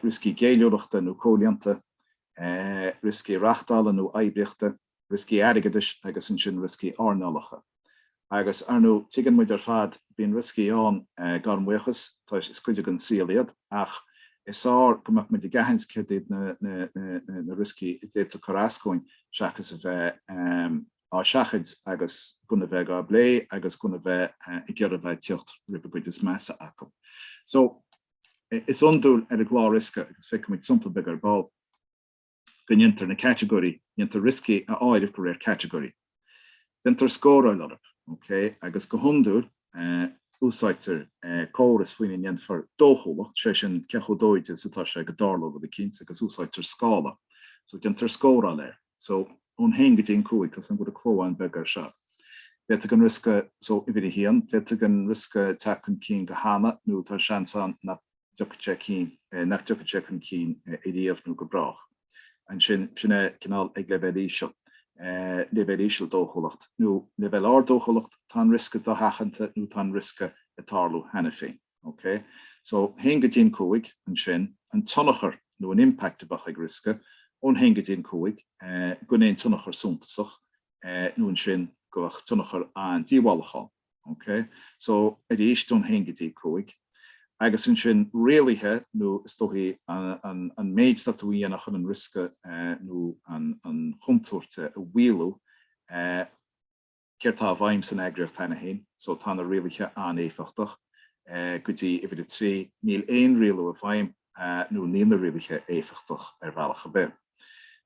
rioscaí géilliúlachta nó comhlíonta, rioscaí reachtála nó oibríochta, rioscaí airgeadais agus ansin rioscaí earnálacha. Agus, ar ndóigh, tuigeann muid ar fad, bíonn rioscaí ann, gan amhras, is cuid den saol iad, ach is fearr go mbeadh muid ag aithint céard iad na rioscaí a d'fhéadfadh cur as dúinn seachas a bheith á seachaint agus gan a bheith á bplé agus gan a bheith ag iarraidh a bheith ag tíocht roimh an gcuid is measa acu. Is iondúil ar an gclár riosca, agus feicimid sampla beag ar ball, go ndéantar na catagóirí, déantar rioscaí a áireamh de réir catagóirí. Déantar scóráil orthu, OK? Agus go hiondúil, úsáidtear córas faoina ndéanfar dóchúlacht, sé sin cé chomh dóide is atá sé go dtarlóidh rud eicínt, agus úsáidtear scála. So, déantar scóráil air. so, ón haon go dtí an cúig, tá an cló rud beag beag air seo. D'fhéadfadh an riosca, so, uimhir a haon, d'fhéadfadh an riosca teacht chun cinn go hannamh nó tá seans ann nach dtiocfaidh sé cinn, nach dtiocfaidh sé chun cinn ariamh nó go brách. Ansin, sin é cineál ag leibhéal íseal, leibhéal íseal dóchúlacht, nó leibhéal ard dóchúlacht, tá an riosca dosheachanta nó tá an riosca ag tarlú cheana féin. OK. So, 1 go dtí an 5, ansin, an tionchar nó an impact a bheadh ag riosca, ón 1 go dtí an 5, gan aon tionchar suntasach, nó ansin go mbeadh tionchar an-díobhálach ann. OK. So, arís, ón 1 go dtí 5. Agus ansin, rialaithe, nó is dóichí an an méid atá tú a dhéanamh chun an riosca nó an chontúirt a mhaolú. Céard tá i bhfeidhm san eagraíocht cheana féin? So tá na rialaithe an-éifeachtach go dtí uimhir a trí. Níl aon rialú i bhfeidhm nó níl na rialaithe éifeachtach ar bhealach ar bith.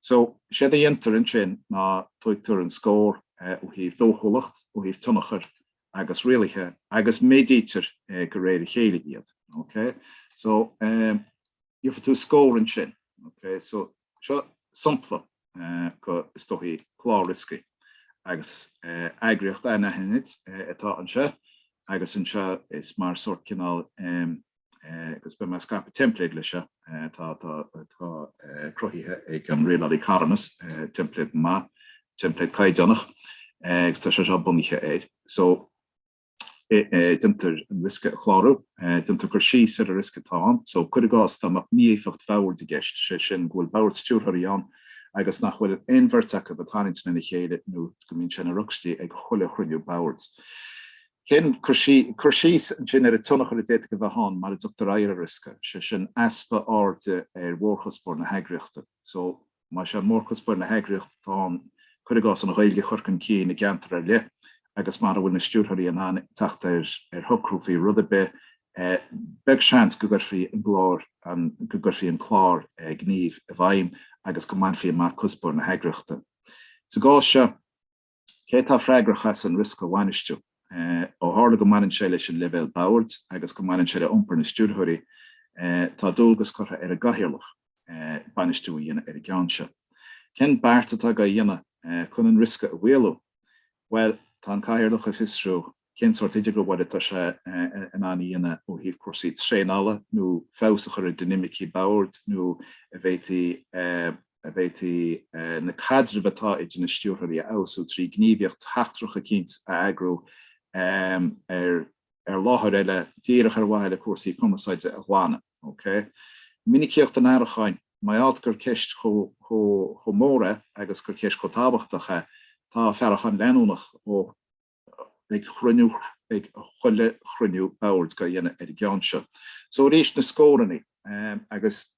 So séard a dhéantar ansin ná tugtar an scór ó thaobh dóchúlacht, ó thaobh tionchar agus rialaithe agus méadaítear de réir a chéile iad. Okay? So gheofá tú scór ansin. Okay? So. Seo sampla go is dóichí clár rioscaí agus eagraíocht anaithnid atá anseo agus anseo is mar sort cineál agus beidh mé ag scaipeadh teimpléad leis seo atá atá cruthaithe ag an Rialálaí Carthanas, teimpléad maith, teimpléad caighdeánach agus tá sé seo bunaithe air. So. déantar an riosca a chlárú, déantar cur síos ar an riosca atá ann so cuir i gcás dá mbeadh mí-éifeacht bhoird i gceist, sé sin go bhfuil bord stiúrthóirí ann agus nach bhfuil aon bheirt acu ag baint lena chéile nó go mbíonn sé ina rugstaí ag chuile chruinniú boird. Cén cur síos ansin ar an tionchar a d'fhéadfadh a bheith ann mara dtugtar aghaidh ar an riosca, sé sin easpa airde ar mhórchuspóir na heagraíochta so Más é mórchuspóir na heagraíochta atá ann, cuir i gcás, an Ghaeilge a chur chun cinn i gceantar ar leith agus mura bhfuil na stiúrthóirí in ann teacht ar shocrú faoi rud ar bith, beag seans go gcuirfí an clár an go gcuirfí an clár gníomh i bhfeidhm agus go mbainfí amach cuspóir na heagraíochta. Sa gcás seo. Cé atá freagrach as an riosca a bhainistiú? Ó tharla go mbaineann sé leis an leibhéal boird agus go mbaineann sé le iompar na stiúrthóirí, tá dualgas curtha ar an gcathaoirleach bainistiú a dhéanamh ar an gceann seo. Cén beart atá á dhéanamh chun an riosca a mhaolú? Bhuel, tá an cathaoirleach ag fiosrú Cén sórt idirghabháil atá sé in ann a dhéanamh ó thaobh cúrsaí traenála nó feabhas a chur ar dhinimicí boird nó an bhféadfaí na caidrimh atá idir na stiúrthóirí a fheabhsú trí ghníomhaíocht sheachtrach eicínt a eagrú ar láthair eile díreach ar mhaithe le cúrsaí cumarsáide a ghlanadh? Minicíocht an fhaireacháin, mar gheall gur ceist chomh mór é agus gur ceist chomh tábhachtach é, tá faireachán leanúnach ó. ag cruinniú ag chuile chruinniú boird dhá dhéanamh ar an gceann seo. So arís na scórannaí agus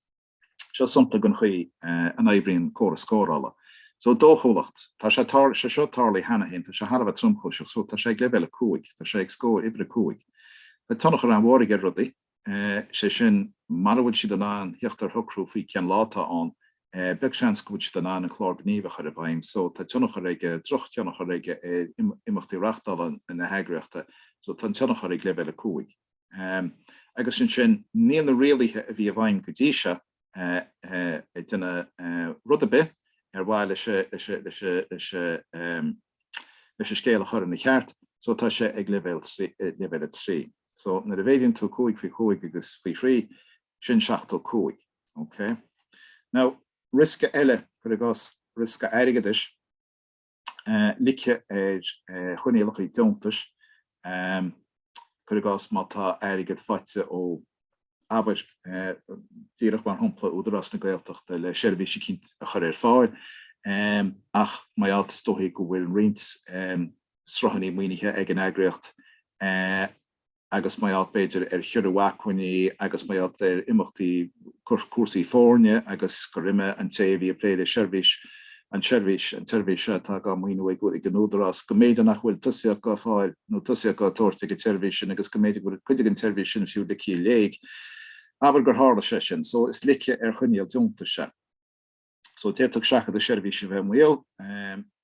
seo sampla den chaoi a n-oibríonn córas scórála. So dóchúlacht, tá sé seo tarlaithe cheana féin tá sé thar a bheith tromchúiseach so tá sé ag leibhéal a cúig tá sé ag scór uimhir a cúig. Tá tionchar an-mhór aige ar rudaí. sé sin, mara bhfuil siad in ann theacht ar shocrú faoi cén lá atá ann, beag seans go bhfuil siad in ann an clár gníomh a chur i bhfeidhm. So tá tionchar aige, drochthionchar aige ar imeachtaí reachtála na heagraíochta. So tá an tionchar ag leibhéal a cúig. Agus ansin níl na rialaithe a bhí i bhfeidhm go dtí seo, ag déanamh rud ar bith ar mhaithe leis an scéal a chur ina cheart so tá sé ag leibhéal a trí so nuair a mhéadaíonn tú cúig faoi chúig agus faoi thrí sin seachtó cúig ok now riosca eile cuir i gcás riosca airgeadais. loiceadh ar choinníollachaí deontais, cuir i gcás, má tá airgead faighte ó, abair, díreach mar shampla, Údarás na Gaeltachta le seirbhís eicínt a chur ar fáil, ach mar gheall, is dóichí go bhfuil roinnt sruthannaí maoinithe ag an eagraíocht. agus mar gheall b'fhéidir ar chiorrú acmhainní agus mar gheall ar imeachtaí cúrsaí foirne agus gur imigh an té a bhí ag plé le seirbhís an tseirbhís an tseirbhís seo atá á maoiniú ag ag an Údarás go mb'fhéidir nach bhfuil tosaíocht á fáil nó tosaíocht á tabhairt don tseirbhís sin agus go mb'fhéidir go bhfuil cuid den tseirbhís sin fiú ligthe i léig abair gur tharla sé sin so is loiceadh ar choinníoll deontais é. so d'fhéadfadh seachadadh seirbhíse a bheith i mbaol.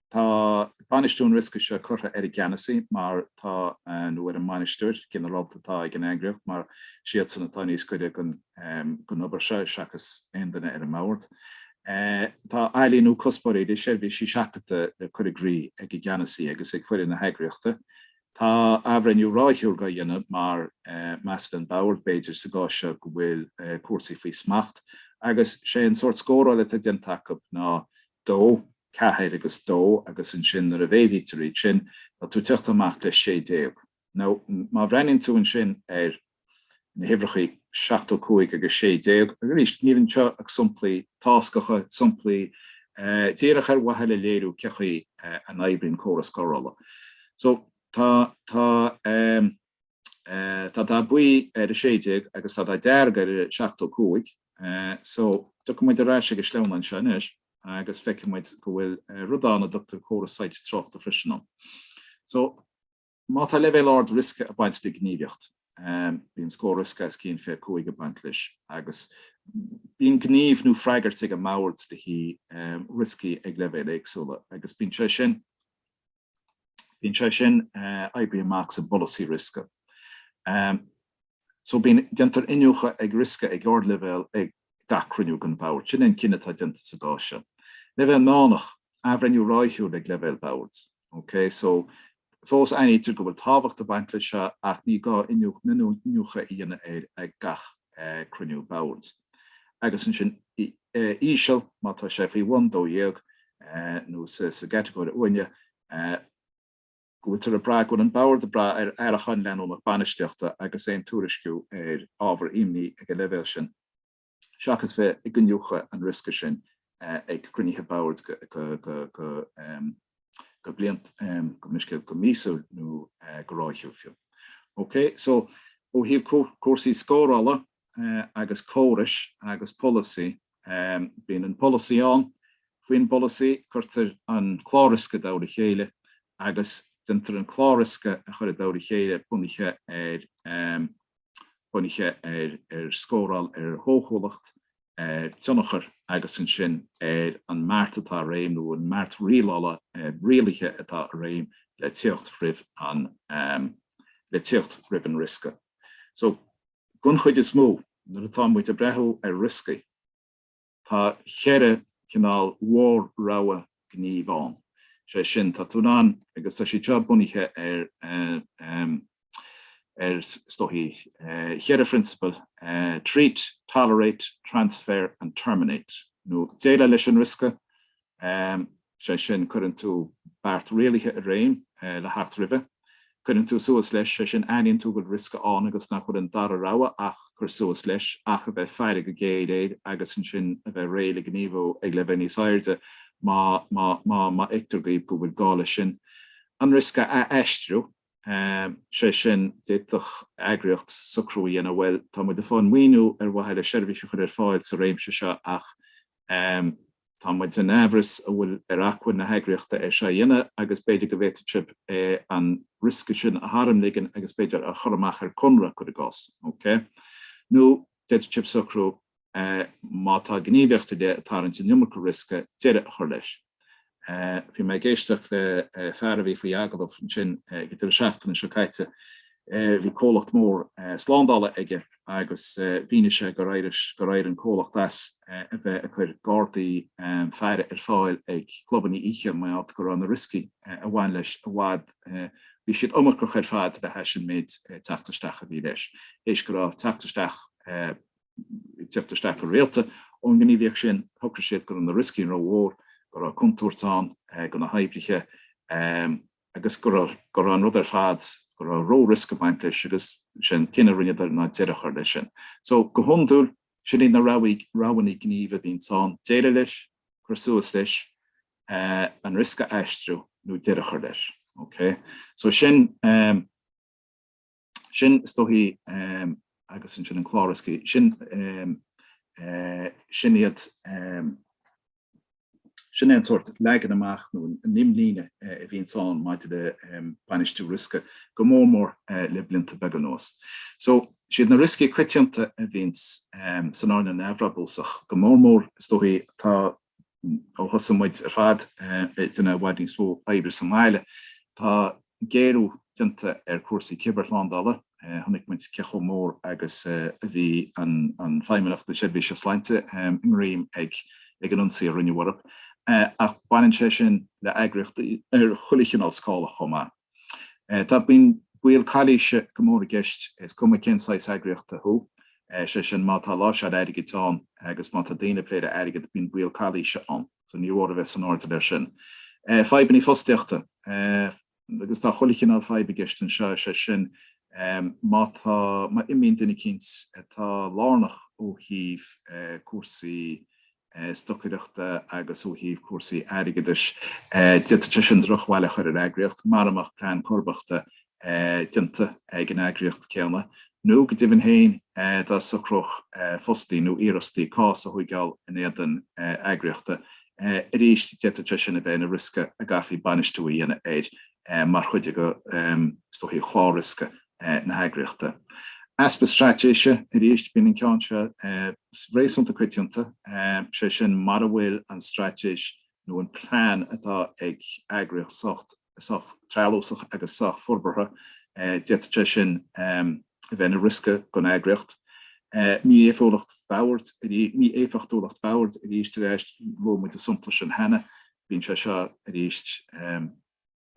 Tá bainistiú an riosca seo curtha ar an gceannasaí mar tá nó ar an mbainisteoir ginearálta atá ag an eagraíocht mar siadsan atá níos gaire don obair seo seachas aon duine ar an mbord. Tá ailíniú cuspóirí idir seirbhísí seachadta le cur i gcrích ag an gceannasaí agus ag foireann na heagraíochta. Tá athbhreithniú ráithiúil dhá dhéanamh mar measann an Bord, b'fhéidir, sa gcás seo go bhfuil cúrsaí faoi smacht agus sé an sórt scóráil atá déanta acu ná dó, ceathair agus dó agus ansin nuair a mhéadaítear iad sin tá tú ag teacht amach le sé déag. Now, má bhreathnaíonn tú ansin ar. na huimhreacha 75 agus 16, arís, níl anseo ach somplaí táscacha, somplaí díreach ar mhaithe le léiriú cén chaoi a n-oibríonn córas scórála. So, tá, tá, tá dath buí ar 16 agus tá dath dearg ar 75. So, tiocfaidh muid ar ais ag an sleamhnán anseo anois agus feicfidh muid go bhfuil rud ann a dtugtar córas soilse tráchta freisin ann. So, Má tá leibhéal ard riosca ag baint le gníomhaíocht, bíonn scór riosca os cionn 25 ag baint leis agus bíonn gníomh nó freagairt ag an mbord le haghaidh rioscaí ag leibhéil éagsúla agus bíonn sé sin bíonn sé sin oibrithe amach sa bpolasaí riosca. So bíonn, déantar iniúchadh ag riosca ag ardleibhéal ag gach cruinniú den bhord. Sin é an cinneadh atá déanta sa gcás seo. Leibhéal meánach, athbhreithniú ráithiúil ag leibhéal boird. OK? So, fós aithnítear go bhfuil tábhacht ag baint leis seo ach ní gá iniúchadh a dhéanamh air ag gach cruinniú boird. Agus ansin íseal, má tá sé faoi bhun 12 nó sa gcatagóir uaine, go bhfuiltear ag brath go bhfuil an bord ag brath ar fhaireachán leanúnach bainistíochta agus aon tuairisciú ar ábhar imní ag an leibhéal sin, seachas bheith ag iniúchadh an riosca sin ag cruinnithe boird go bliant, gabh mo leithscéal, go míosúil nó go ráithiúil fiú. OK, so ó thaobh cúrsaí scórála, agus córais agus polasaí. Bíonn an polasaí ann, faoin bpolasaí cuirtear an clár riosca i dtoll a chéile agus déantar an clár riosca a chur i dtoll a chéile bunaithe ar bunaithe ar ar scóráil ar dhóchúlacht, ar tionchar agus ansin ar an mbeart atá i réim nó an mbeart rialála rialaithe atá i réim le tíocht roimh an le tíocht roimh an riosca. So. Don chuid is mó, nuair atá muid ag breathú ar rioscaí, tá cheithre chineál mhór rogha gnímh ann. Sé sin, tá tú in ann, agus tá siad seo bunaithe ar, is dóichí, cheithre phrionsabal, treat, tolerate, transfer and terminate, nó déileáil leis an riosca, Sé sin, cuireann tú beart rialaithe i réim le theacht roimhe. Cuireann tú suas leis, sé sin, aithníonn tú go bhfuil riosca ann agus nach bhfuil an dara rogha ach cur suas leis, ach a bheith faire go géar air agus ansin a bheith réidh le gníomhú ag leibhéal níos airde má fheictear dhaoibh go bhfuil gá leis sin an riosca a aistriú. sé sin, d'fhéadfadh eagraíocht socrú a dhéanamh, bhuel, tá muid ag fáil maoiniú ar mhaithe le seirbhís a chur ar fáil sa réimse seo ach tá muid in aimhreas an bhfuil ar acmhainn na heagraíochta é seo a dhéanamh agus b'fhéidir go bhféadfadh sibh an riosca sin a tharmligean agus b'fhéidir a chur amach ar conradh, cuir i gcás, OK. D'fhéadfadh sibh socrú, má tá gníomhaíocht ar leith ag tarraingt an iomarca riosca, deireadh a chur leis. Bhí mé ag éisteacht le fear a bhí faoi agallamh ansin ag an deireadh seachtaine seo caite. Bhí comhlacht mór slándála aige agus mhínigh sé gur éirigh an comhlacht as a bheith ag cur gardaí faire ar fáil ag clubannaí oíche mar gheall go raibh na rioscaí a bhain leis i bhfad Bhí siad iomarcach ar fad le hais an méid teacht isteach a bhí leis, théis go raibh teacht isteach ag teacht isteach go rialta ón ngníomhaíocht sin. Shocraigh siad go raibh na rioscaí rómhór, go raibh contúirt ann do na hoibrithe agus go raibh an rud ar fad, go raibh ró-riosca ag baint leis agus sé an cinneadh a rinneadar ná deireadh a chur leis sin. So, go hiondúil, sin iad na roghannaí gnímh a bhíonns ann, déileáil leis, cur suas leis, an riosca a aistriú nó deireadh a chur leis. OK? So sin, sin is dóichí agus ansin an clár rioscaí, sin, sin iad, sin é an sórt leagan amach nó an imlíne a bhíonns ann maidir le bainistiú riosca go mór mór le blianta beaga anuas. So. Is iad na rioscaí coitianta a bhíonns san earnáil neamhbhrabúsach, go mór mór, is dóichí, tá, ó thosaigh muid ar fad ag déanamh i bhfad níos mó oibre sa mbaile, tá géarú déanta ar chúrsaí cibearshlándála, chonaic muid cé chomh mór agus a bhí an Feidhmeannacht na Seirbhíse Sláinte i ngreim ag an ionsaí a rinneadh orthu, ach baineann sé sin le eagraíochtaí ar chuile chineál scála chomh maith. Tá, bíonn baol calaoise go mór i gceist, is cuma cén saghas eagraíochta thú. Sé sin, má tá láimhseáil airgid ann agus má tá daoine ag plé le hairgead, bíonn baol calaoise ann. So níor mhór a bheith san airdeall ar sin. Fadhbanna fostaíochta. Agus tá chuile chineál fadhb i gceist anseo, is é sin, má tá, má imíonn duine eicínt atá lárnach ó thaobh cúrsaí stocaireachta agus ó thaobh cúrsaí airgeadais. D'fhéadfadh sé sin drochbhail a chur ar eagraíocht mara mbeadh plean comharbachta déanta ag an eagraíocht chéanna, nó go deimhin féin dá socródh fostaí nó iarfhostaí cás a thóigeáil in éadan eagraíochta. Arís, d'fhéadfadh sé sin a bheith ina riosca a gcaithfí bainistiú a dhéanamh air mar chuid de chlár riosca. na heagraíochta. Easpa straitéise, arís, bíonn an ceann seo réasúnta coitianta, sé sin mara bhfuil an straitéis nó an plean atá ag eagraíocht sách treallúsach agus sách forbartha d'fhéadfadh sé sin a bheith ina riosca don eagraíocht. Mí-éifeachtúlacht bhoird, arís, luaigh muid an sompla sin cheana, bíonn sé seo arís,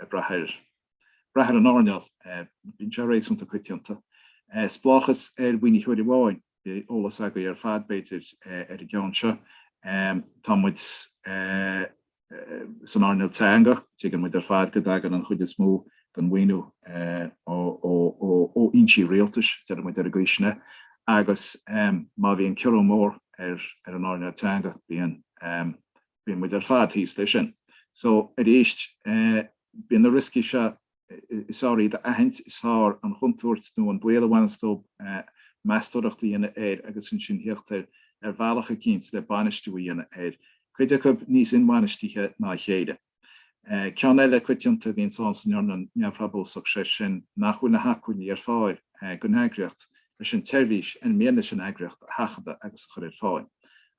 ag brath ar an earnáil. Bíonn sé réasúnta coitianta. Spleáchas ar mhaoinitheoir amháin. Beidh eolas agaibh ar fad, b'fhéidir, ar an gceann seo. Tá muid san earnáil teanga. Tuigeann muid ar fad go dtagann an chuid is mó den mhaoiniú ó fhoinsí rialtais, deir muid Foras na Gaeilge, agus má bhíonn ciorrú mór ar an earnáil teanga, bíonn. bíonn muid ar fad thíos leis sin. So, arís, bíonn na rioscaí seo, is fearr iad a aithint, is fearr an chontúirt nó an baol a bhaineanns leo, meastóireacht a dhéanamh air agus ansin thíocht ar bhealach eicínt le bainistiú a dhéanamh air. Cuid acu níos inbhainistithe ná a chéile. Ceann eile coitianta a bhíonns ann san earnáil neamhbhrabúsach, sé sin nach bhfuil na hacmhainní ar fáil don eagraíocht leis an tseirbhís ar mian leis an eagraíocht a sheachadadh agus a chur ar fáil.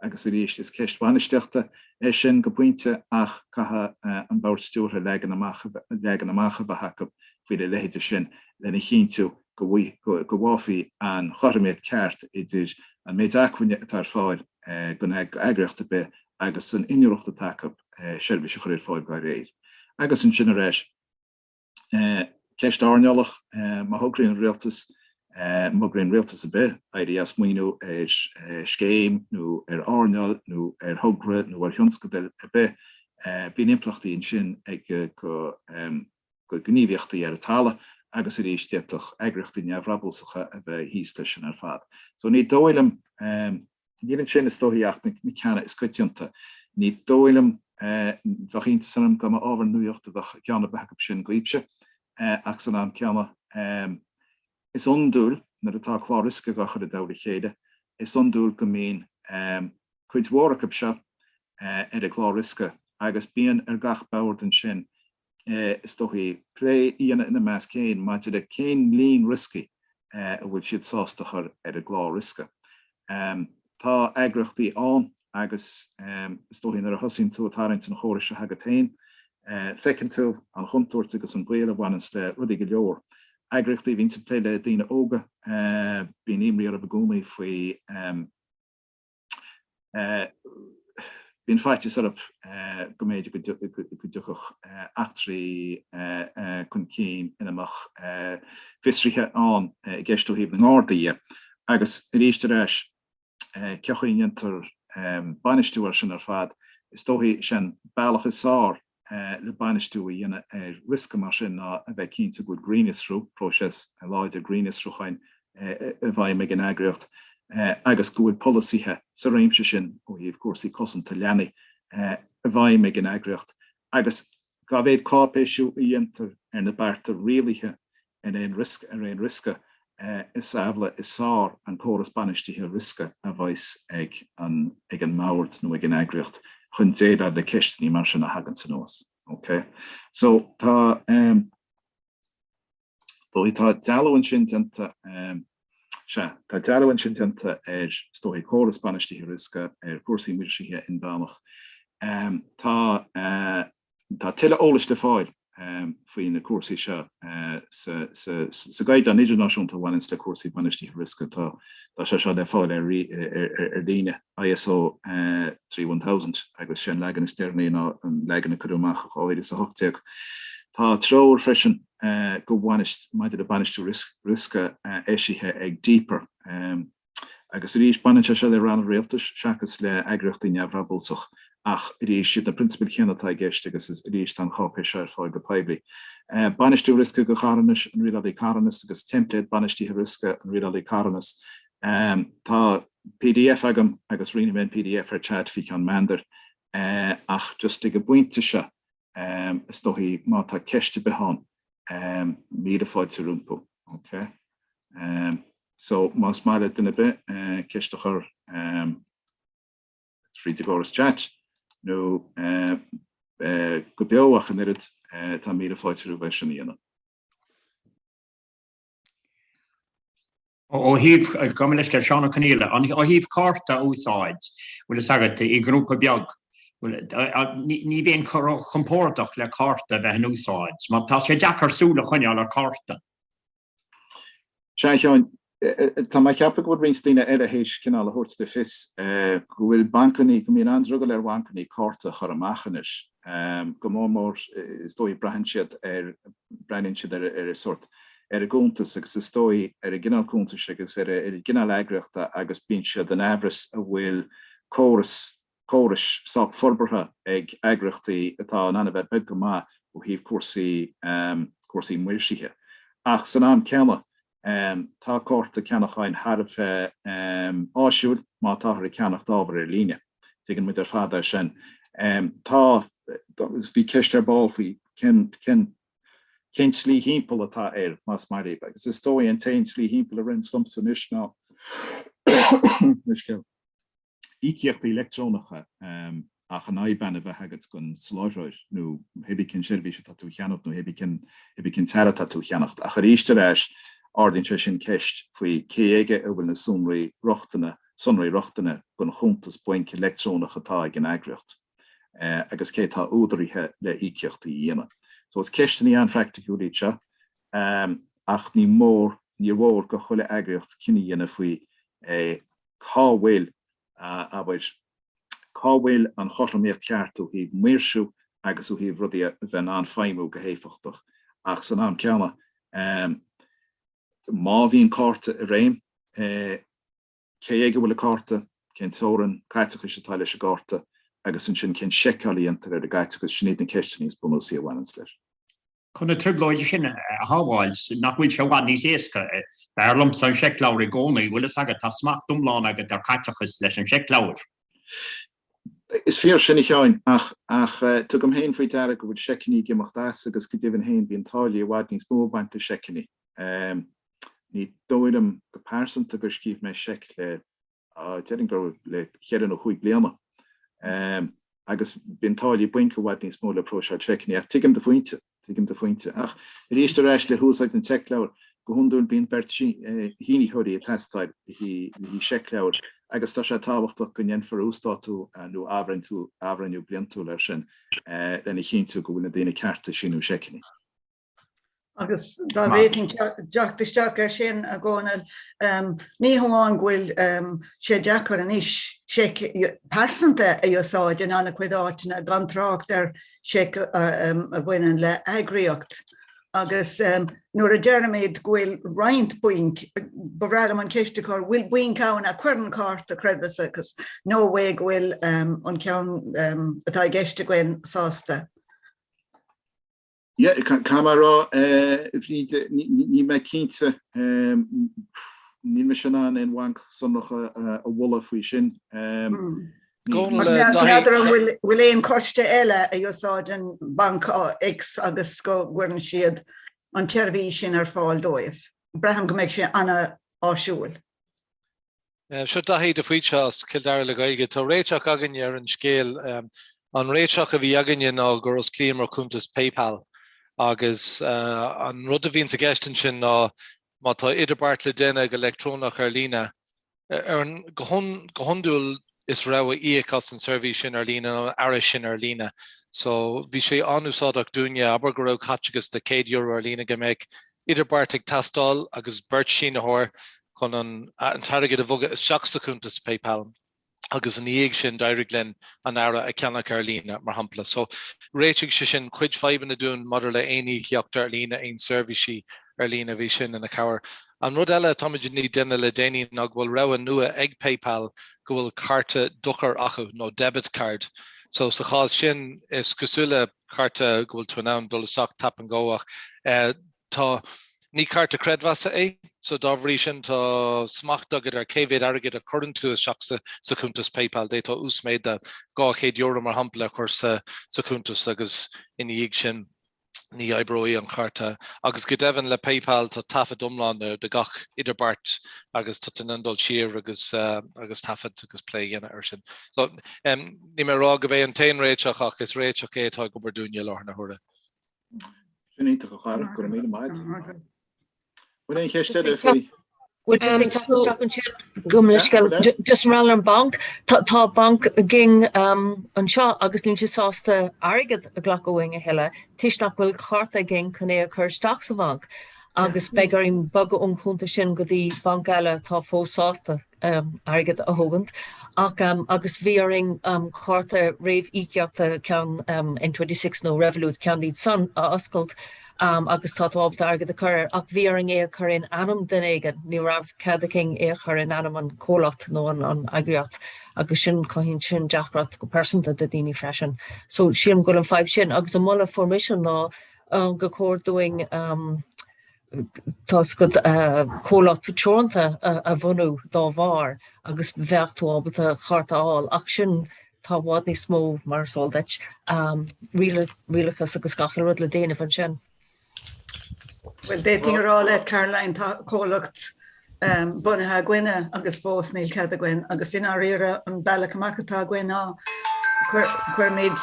Agus arís, is ceist bhainistíochta é sin go pointe ach caithfidh an bord stiúrtha leagan amach a bheith acu faoina leithéidí sin lena chinntiú go bhfaighfí an chothromaíocht cheart idir an méid acmhainne atá ar fáil don eagraíocht ar bith agus an inniúlacht atá acu seirbhís a chur ar fáil dá réir. Agus ansin ar ais. Ceist earnálach, má thograíonn an rialtas, má thograíonn rialtas ar bith, éirí as maoiniú ar scéim nó ar earnáil nó ar thogra nó ar thionscadal ar bith, bíonn impleachtaí ansin ag go gníomhaíochtaí ar an talamh agus arís d'fhéadfadh eagraíochtaí neamhbhrabúsacha a bheith thíos leis sin ar fad. So ní dóigh liom. Níl ansin is dóichí ach na ceanna is coitianta. Ní dóigh liom, bheadh iontas orm dá mba ábhar nuachta a bheadh i gceann ar bith acu sin, Goitse, ach san am céanna is iondúil nuair atá clár riosca á chur i dtoll a chéile, is iondúil go mbíonn cuid mhór acu seo ar an gclár riosca agus bíonn ar gach bord ansin is dóichí plé a dhéanamh ina measc féin maidir le cén líon rioscaí a bhfuil siad sásta a chur ar an gclár riosca. Tá eagraíochtaí ann agus is dóichí nuair a thosaíonn tú ag tarraingt an chórais seo agat féin, feiceann tú an chontúirt agus an baol a bhaineanns le rudaí go leor. Eagraíochtaí a bhíonns ag plé le daoine óga, bíonn imní orthu i gcónaí faoi. Bíonn faitíos orthu go mb'fhéidir go dtiocfadh eachtraí chun cinn ina mbeadh fiosruithe ann i gceist ó thaobh na nGardaí. Agus arís ar ais, cén chaoi a ndéantar bainistiú air sin ar fad, is dóichí is é an bealach is fearr le bainistiú a dhéanamh ar riosca mar sin ná a bheith cinnte go bhfuil grinnfhiosrú, próiseas láidir grinnfhiosrúcháin, i bhfeidhm ag an eagraíocht agus go bhfuil polasaithe sa réimse sin ó thaobh cúrsaí cosanta leanaí i bhfeidhm ag an eagraíocht agus dá mhéad cáipéisiú a dhéantar ar na bearta rialaithe ar aon riosca is amhlaidh is fearr an córas bainistithe riosca a bheas ag an mbord nó ag an eagraíocht chun déileáil le ceisteanna mar sin a thaganns anuas. OK? So, tá dealú ansin déanta, tá dealú ansin déanta ar is dóigh córas bainistithe riosca ar chúrsaí maoirseachta inmheánach. Tá. Tá tuilleadh eolais le fáil faoi na cúrsaí seo sa gCaighdeán Idirnáisiúnta a bhaineanns le cúrsaí bainistithe riosca. Tá sé seo le fáil ar líne, ISO 31000, agus sé an leagan is deireanaí ná an leagan a cuireadh amach i 2018. Tá treoir freisin go bainis maidir le bainistiú riosca eisithe ag DPER. Agus arís, baineann sé seo le ranna rialtais seachas le eagraíochtaí neamhbhrabúsach ach arís, siad na prionsabail chéanna atá i gceist agus arís tá an cháipéis seo ar fáil go poiblí. Bainistiú riosca go carthanais, an Rialálaí Carthanas agus teimpléad bainistithe riosca, an Rialálaí Carthanas. Tá pdf agam agus roinnfidh mé an pdf ar chat fi cheann meandair ach just ag an bpointe seo, is dóichí má tá ceist ar bith ann míle fáilte rompu ok so más maith le duine ar bith ceist a chur tríd an gcóras chat nó go beo ach an oiread tá míle fáilte roimh é sin a dhéanamh. Ó thaobh, gabh mo leithscéal, Seán Ó Conaola, ó thaobh cárta a úsáid, bhfuil fhios agat i grúpa beag, ní bheinn ró chompórdach le cárta a bheith in úsáid mar tá sé deacair súil a choinneáil ar cárta. Sea Sheáin, tá mé a cheapadh go bhfuil roinnt daoine eile théis cineál a thabhairt le fios go bhfuil bancannaí, go mbíonn an-drogall ar bhancannaí cárta a chur amach anois. Am, go mór mór is dóigh. Breathnaíonn siad ar, breathnaíonn siad ar an sórt, ar an gcuntas agus is dóigh ar an gcineál cuntais agus ar an gcineál eagraíochta agus bíonn siad in aimhreas an bhfuil córas, córais sách forbartha ag eagraíochtaí atá in ann a bheith beag go maith ó thaobh cúrsaí, cúrsaí maoirsithe. Ach san am céanna Tá cárta ceannacháin thar a bheith áisiúil má táthar ag ceannacht ábhar ar líne. Tuigeann muid ar fad é sin. Tá, agus bhí ceist ar ball faoi cén tslí thimpeall atá air, más maith libh, agus is dóigh an t-aon tslí thimpeall a ritheanns liomsa anois ná, leithscéal, íocaíochtaí leictreonacha ach an IBAN a bheith agat don soláthróir nó hé bí cén tseirbhís atá tú a cheannacht nó hé bí cén t-earra atá tú a cheannacht ach arís ar ais ardaíonn sé sin ceist faoi cé aige a bhfuil na sonraí rochtana sonraí rochtana don chuntas bainc leictreonach atá ag an eagraíocht agus cé atá údaraithe le íocaíochtaí a dhéanamh. So is ceisteanna an-phraicticiúil iad seo ach ní mór níor mhór do chuile eagraíocht cinneadh a dhéanamh faoi cá bhfuil, abair, cá bhfuil an chothromaíocht cheart ó thaobh maoirsiú agus ó thaobh rudaí a bheith in ann feidhmiú go héifeachtach ach san am céanna má bhíonn cárta i réim, cé aige a bhfuil an cárta, cén teorainn caiteachais atá leis an gcárta agus ansin cén seiceáil a dhéantar ar an gcaiteachas, sin iad na ceisteanna is bunúsaí a bhaineanns leis. Chun na trioblóide sin a shábháil, nach bhfuil sé i bhfad níos éasca, b'fhearr liomsa an seicleabhar i gcónaí, bhfuil fhios agat, tá smacht iomlán agat ar chaiteachas leis an seicleabhar. Is fíor sin a Sheáin, ach ach tugaim féin faoi deara go bhfuil seiceanna ag imeacht as agus go deimhin féin bíonn táillí i bhfad níos mó ag baint le seiceanna. Ní dóigh liom go pearsanta gur scríobh mé seic le. Déarfainn gur le ceithre nó cúig bliana. Agus bíonn táillí bainc i bhfad níos mó le próiseáil seiceanna. Ach tuigim do phointe. Tuigim do phointe. Ach arís ar ais le húsáid an tseicleabhair, go hiondúil bíonn beirt shínitheoirí ag teastáil le haghaidh seicleabhair agus tá sé tábhachtach go ndéanfar uasdátú nó athbhreithniú bliantúil air sin lena chinntiú go bhfuil na daoine cearta ag síniú seiceanna. Agus dá bhféadfainn teacht isteach air sin, a Dhónaill, ní hamháin go bhfuil sé deacair anois seic pearsanta a úsáid in an-chuid áiteanna, gan trácht ar sheic a bhaineann le heagraíocht, agus nuair a deirimid go bhfuil roinnt bainc, ba bhreá liom an cheist a chur, an bhfuil bainc ann a chuireann cárta creidmheasa agus nó an é go bhfuil an ceann atá i gceist againn sásta? Yeah, caithfidh mé a rá, a Bhríd, níl mé cinnte. Níl mise in ann aon bhanc sonrach a mholadh faoi sin. N'fheadar an bhfuil aon choiste eile a úsáideann banc X agus go gcuireann siad an tseirbhís sin ar fáil dóibh. Braithim go mbeidh sé an-áisiúil. Seo Daithí de Faoite as Cill Dara le Gaeilge. Tá réiteach againne ar an scéal. An réiteach a bhí againne ná gur osclaíomar cuntas PayPal agus an rud a bhíonns i gceist ansin ná má tá idirbheart le déanamh go leictreonach ar líne, go hiondúil is rogha íoc as an seirbhís sin ar líne nó an earra sin ar líne. So bhí sé an-úsáideach dúinne, abair go raibh caiteachas de 100 euro ar líne go mbeadh idirbheart ag teastáil agus beirt sínitheoir chun an t-airgead a bhogadh isteach sa chuntas PayPal agus ina dhiaidh sin d'éirigh linn an earra a cheannach ar líne, mar shampla. So, réitigh sé sin cuid fadhbanna dúinn maidir le aon íocaíocht ar líne, aon seirbhísí ar líne, bhí sin ina chabhair. An rud eile atáimid i ndiaidh déanamh le déanaí ná go bhfuil rogha nua ag PayPal go bhfuil cárta dochair acu, nó debit card. So, sa chás sin, is cosúil le. Cárta go bhfuil tú in ann dul isteach tap and go, ach tá, ní cárta creidmheasa é, so dá bhrí sin tá smacht agat ar cé mhéad airgid a chuireann tú isteach sa chuntas PayPal. D'fhéadfá uasmhéid de €200 mar shampla a chur sa chuntas agus ina dhiaidh sin ní oibreoidh an cárta. Agus go deimhin le PayPal tá taifead iomlán de gach idirbheart agus tá tú in ann dul siar agus taifead agus plé a dhéanamh air sin. So. Níl mé ag rá gurb é an t-aon réiteach ach is réiteach é atá ag obair dúinne i láthair na huaire. Sin iontach cabhrach, go raibh míle maith agat. Bhfuil aon cheist eile faoi? Would you think that's a stop and shop? Gabh mo leithscéal, just an rogha ar an banc, tá banc againn anseo agus níl sé sásta airgead a ghlacadh uainn a thuilleadh toisc nach bhfuil cárta againn chun é a chur isteach sa bhanc agus beidh orainn bogadh ón chuntas sin go dtí banc eile atá fós sásta. airgead a thógaint agus bhí orainn cárta réamhíocaíochta, ceann N26 nó Revolut, ceann díobh san, a oscailt agus tá tú ábalta airgead a chur air ach bhí orainn é a chur in ainm duine éigin, ní raibh cead againn é a chur in ainm an chomhlacht nó an eagraíocht agus sin, cothaíonn sin deacracht go pearsanta do daoine freisin. So sílim go bhfuil an fhadhb sin agus an moladh a fuair mise ná gur chóir dúinn Tá's agat comhlacht teoranta a bhunú dá bharr agus bheadh tú ábalta cárta a fháil ach sin tá i bhfad níos mó mar is eol duit rialachas agus gach uile rud le déanamh ansin. Bhuel, d'fhéadfainn a rá le Caroline, tá comhlacht bunaithe againne agus fós níl cead againn agus i ndáiríre an bealach amach atá againn ná cuirimid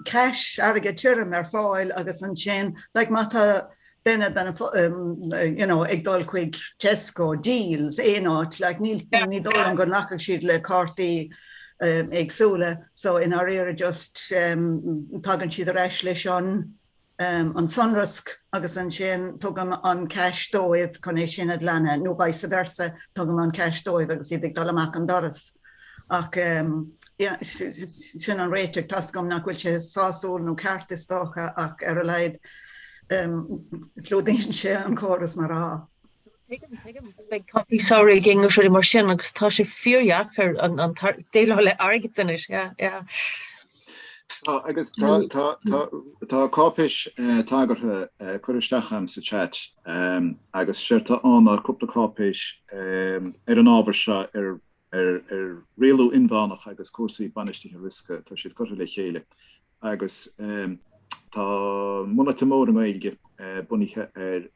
cash, airgead tirim ar fáil agus ansin like má tá duine de na you know ag dul chuig Tesco, Dealz, aon áit like níl ní dóigh liom go nglacfaidh siad le cártaí éagsúla so i ndáiríre just tagann siad ar ais leis an an sonrasc agus ansin tugaim an cash dóibh chun é sin a ghlanadh nó vice versa tugaim an cash dóibh agus iad ag dul amach an doras ach sin an réiteach. Tá 's agam nach bhfuil sé sásúil nó ceart is dócha ach ar a laghad clúdaíonn sé an córas mar atá. Tuigim, tuigim. Beidh coicís samhraidh againn really mar sin agus tá sé fíordheacair an déileáil le airgead anois, yeah, yeah. Agus tá cáipéis tagartha ag cur isteach agam sa chat agus séard tá ann ná cúpla cáipéis ar an ábhar seo ar rialú inmheánach agus cúrsaí bainistithe riosca, tá siad curtha le chéile. agus tá a mbunáite mór i nGaeilge bunaithe ar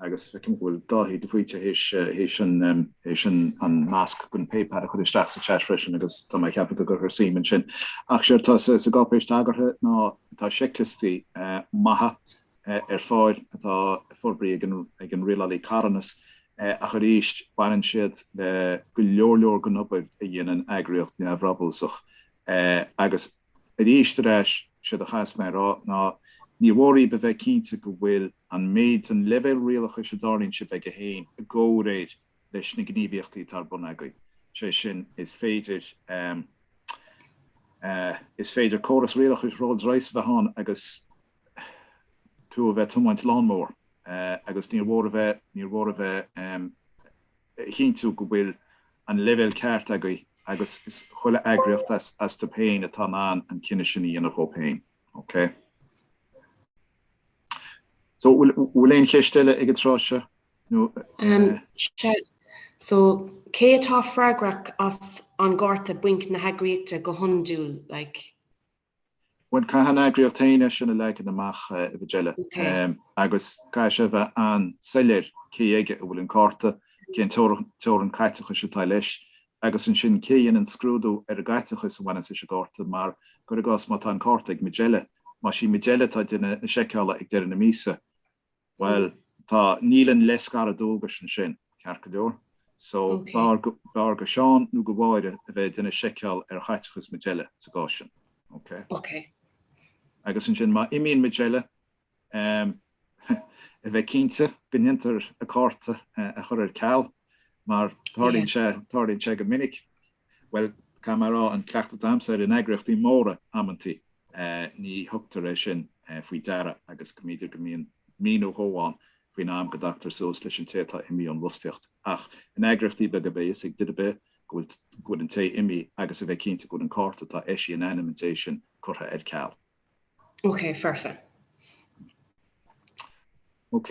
agus feicim go bhfuil Dáithí de Faoite th'éis an nasc gon PayPal a chur isteach sa chat freisin agus tá mé ceaptha go gcuirfear suim ansin. Ach séard tá sa gcáipéis tagartha ná tá seicliostaí maithe ar fáil atá forbraithe ag an Rialálaí Carthanas agus arís baineann siad le go leor leor den obair a dhéanann eagraíocht neamhbhrabúsach Eh agus aríst ar ais, séard a chas mé a rá ná níor mhór dhaoibh a bheith cinnte go bhfuil an méid den leibhéal rialachais a dtarraingíonn sibh agaibh féin i gcomhréir leis na gníomhaíochtaí atá ar bun agaibh. Sé sin, is féidir em eh is féidir córas rialachais Rolls Royce a bheith ann agus tú a bheith tiomáint lawnmower eh agus níor mhór a bheith níor mhór a bheith em a chinntiú go bhfuil an leibhéal ceart agaibh agus chuile eagraíocht as dóibh féin atá in ann an cinneadh sin a dhéanamh dóibh féin. OK? So, bhfuil aon cheist eile ag an tráth seo? So, cé atá freagrach as an gcárta bainc na heagraíochta go hiondúil, like? Bhuel, caithfidh an eagraíocht féin é sin a leagan amach, a Mhajella, agus caithfidh sé a bheith an-soiléir cé aige a bhfuil an cárta, cén teorainn caiteachais atá leis, agus ansin cé a dhéanann scrúdú ar an gcaiteachas a bhaineanns leis an gcárta. Mar, cuir i gcás, má tá an cárta ag Majella, más í Majella atá ag déanamh na seiceála ag deireadh na míosa, Bhuel, tá, níl an leithscaradh dualgais ansin, ceart go leor? So, b'fhearr do Sheán nó do Mháire a bheith ag déanamh seiceáil ar chaiteachas Majella sa gcás sin, ok? Ok. Agus ansin má imíonn Majella, em, a bheith cinnte go ndéantar a cárta a chur ar ceal mar tarlaíonn sé, tarlaíonn sé go minic. Bhuel, caithfidh mé a rá, an cleachtadh atá agamsa in eagraíochtaí móra amantaí ní thugtar é sin faoi deara agus go mb'fhéidir go mbíonn mí nó dhó ann faoin am go dtagtar suas leis an té atá imí ón bhfostaíocht. Ach in eagraíochtaí beaga beidh a fhios ag duine ar bith go bhfuil go bhfuil an té imí agus a bheith cinnte go bhfuil an cárta atá eisí in ainm an té sin curtha ar ceal. Ok, perfect. Ok?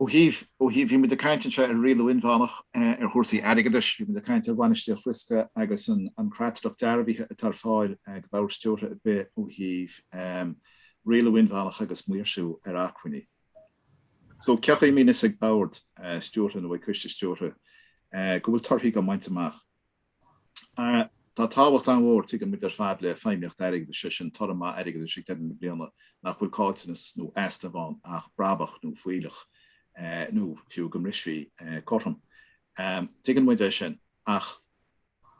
Ó thaobh ó thaobh bhí muid ag caint anseo ar rialú inmheánach, ar chúrsaí airgeadais, bhí muid ag caint ar bhainistiú riosca agus an creatlach dearbhaithe atá ar fáil ag bord stiúrtha ar bith ó thaobh rialú inmheánach agus maoirsiú ar acmhainní. So cén chaoi a mbíonn a fhios ag bord stiúrtha nó ag coiste stiúrtha go bhfuil torthaí dhá mbaint amach. Tá tábhacht an-mhór, tuigeann muid ar fad, le feidhmíocht airgeadais, sé sin toradh maith airgeadais ag deireadh na bliana nach bhfuil caillteanas nó easnamh ann ach brabach nó fuílleach nó fiú go mbrisfí cothrom. Tuigeann muid é sin ach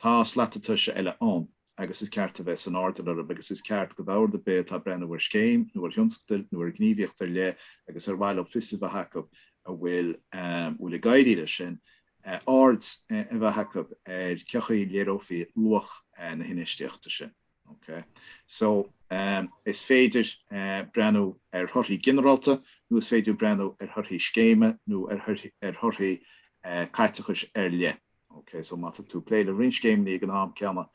tá slata tomhais eile ann agus is ceart a bheith san airdeall orthu agus is ceart do bhord ar bith atá ag breathnú ar scéim nó ar thionscadal nó ar ghníomhaíocht ar leith agus ar mhaith leo fios a bheith acu an bhfuil ag éirí leis sin aird a bheith acu ar cé chaoi a léireofaí luach na hinfheistíochta sin. OK. So, is féidir breathnú ar thorthaí ginearálta nó is féidir breathnú ar thorthaí scéime nó ar thorthaí caiteachais ar leith. OK. So, má tá tú ag plé le roinnt scéimeanna ag an am céanna,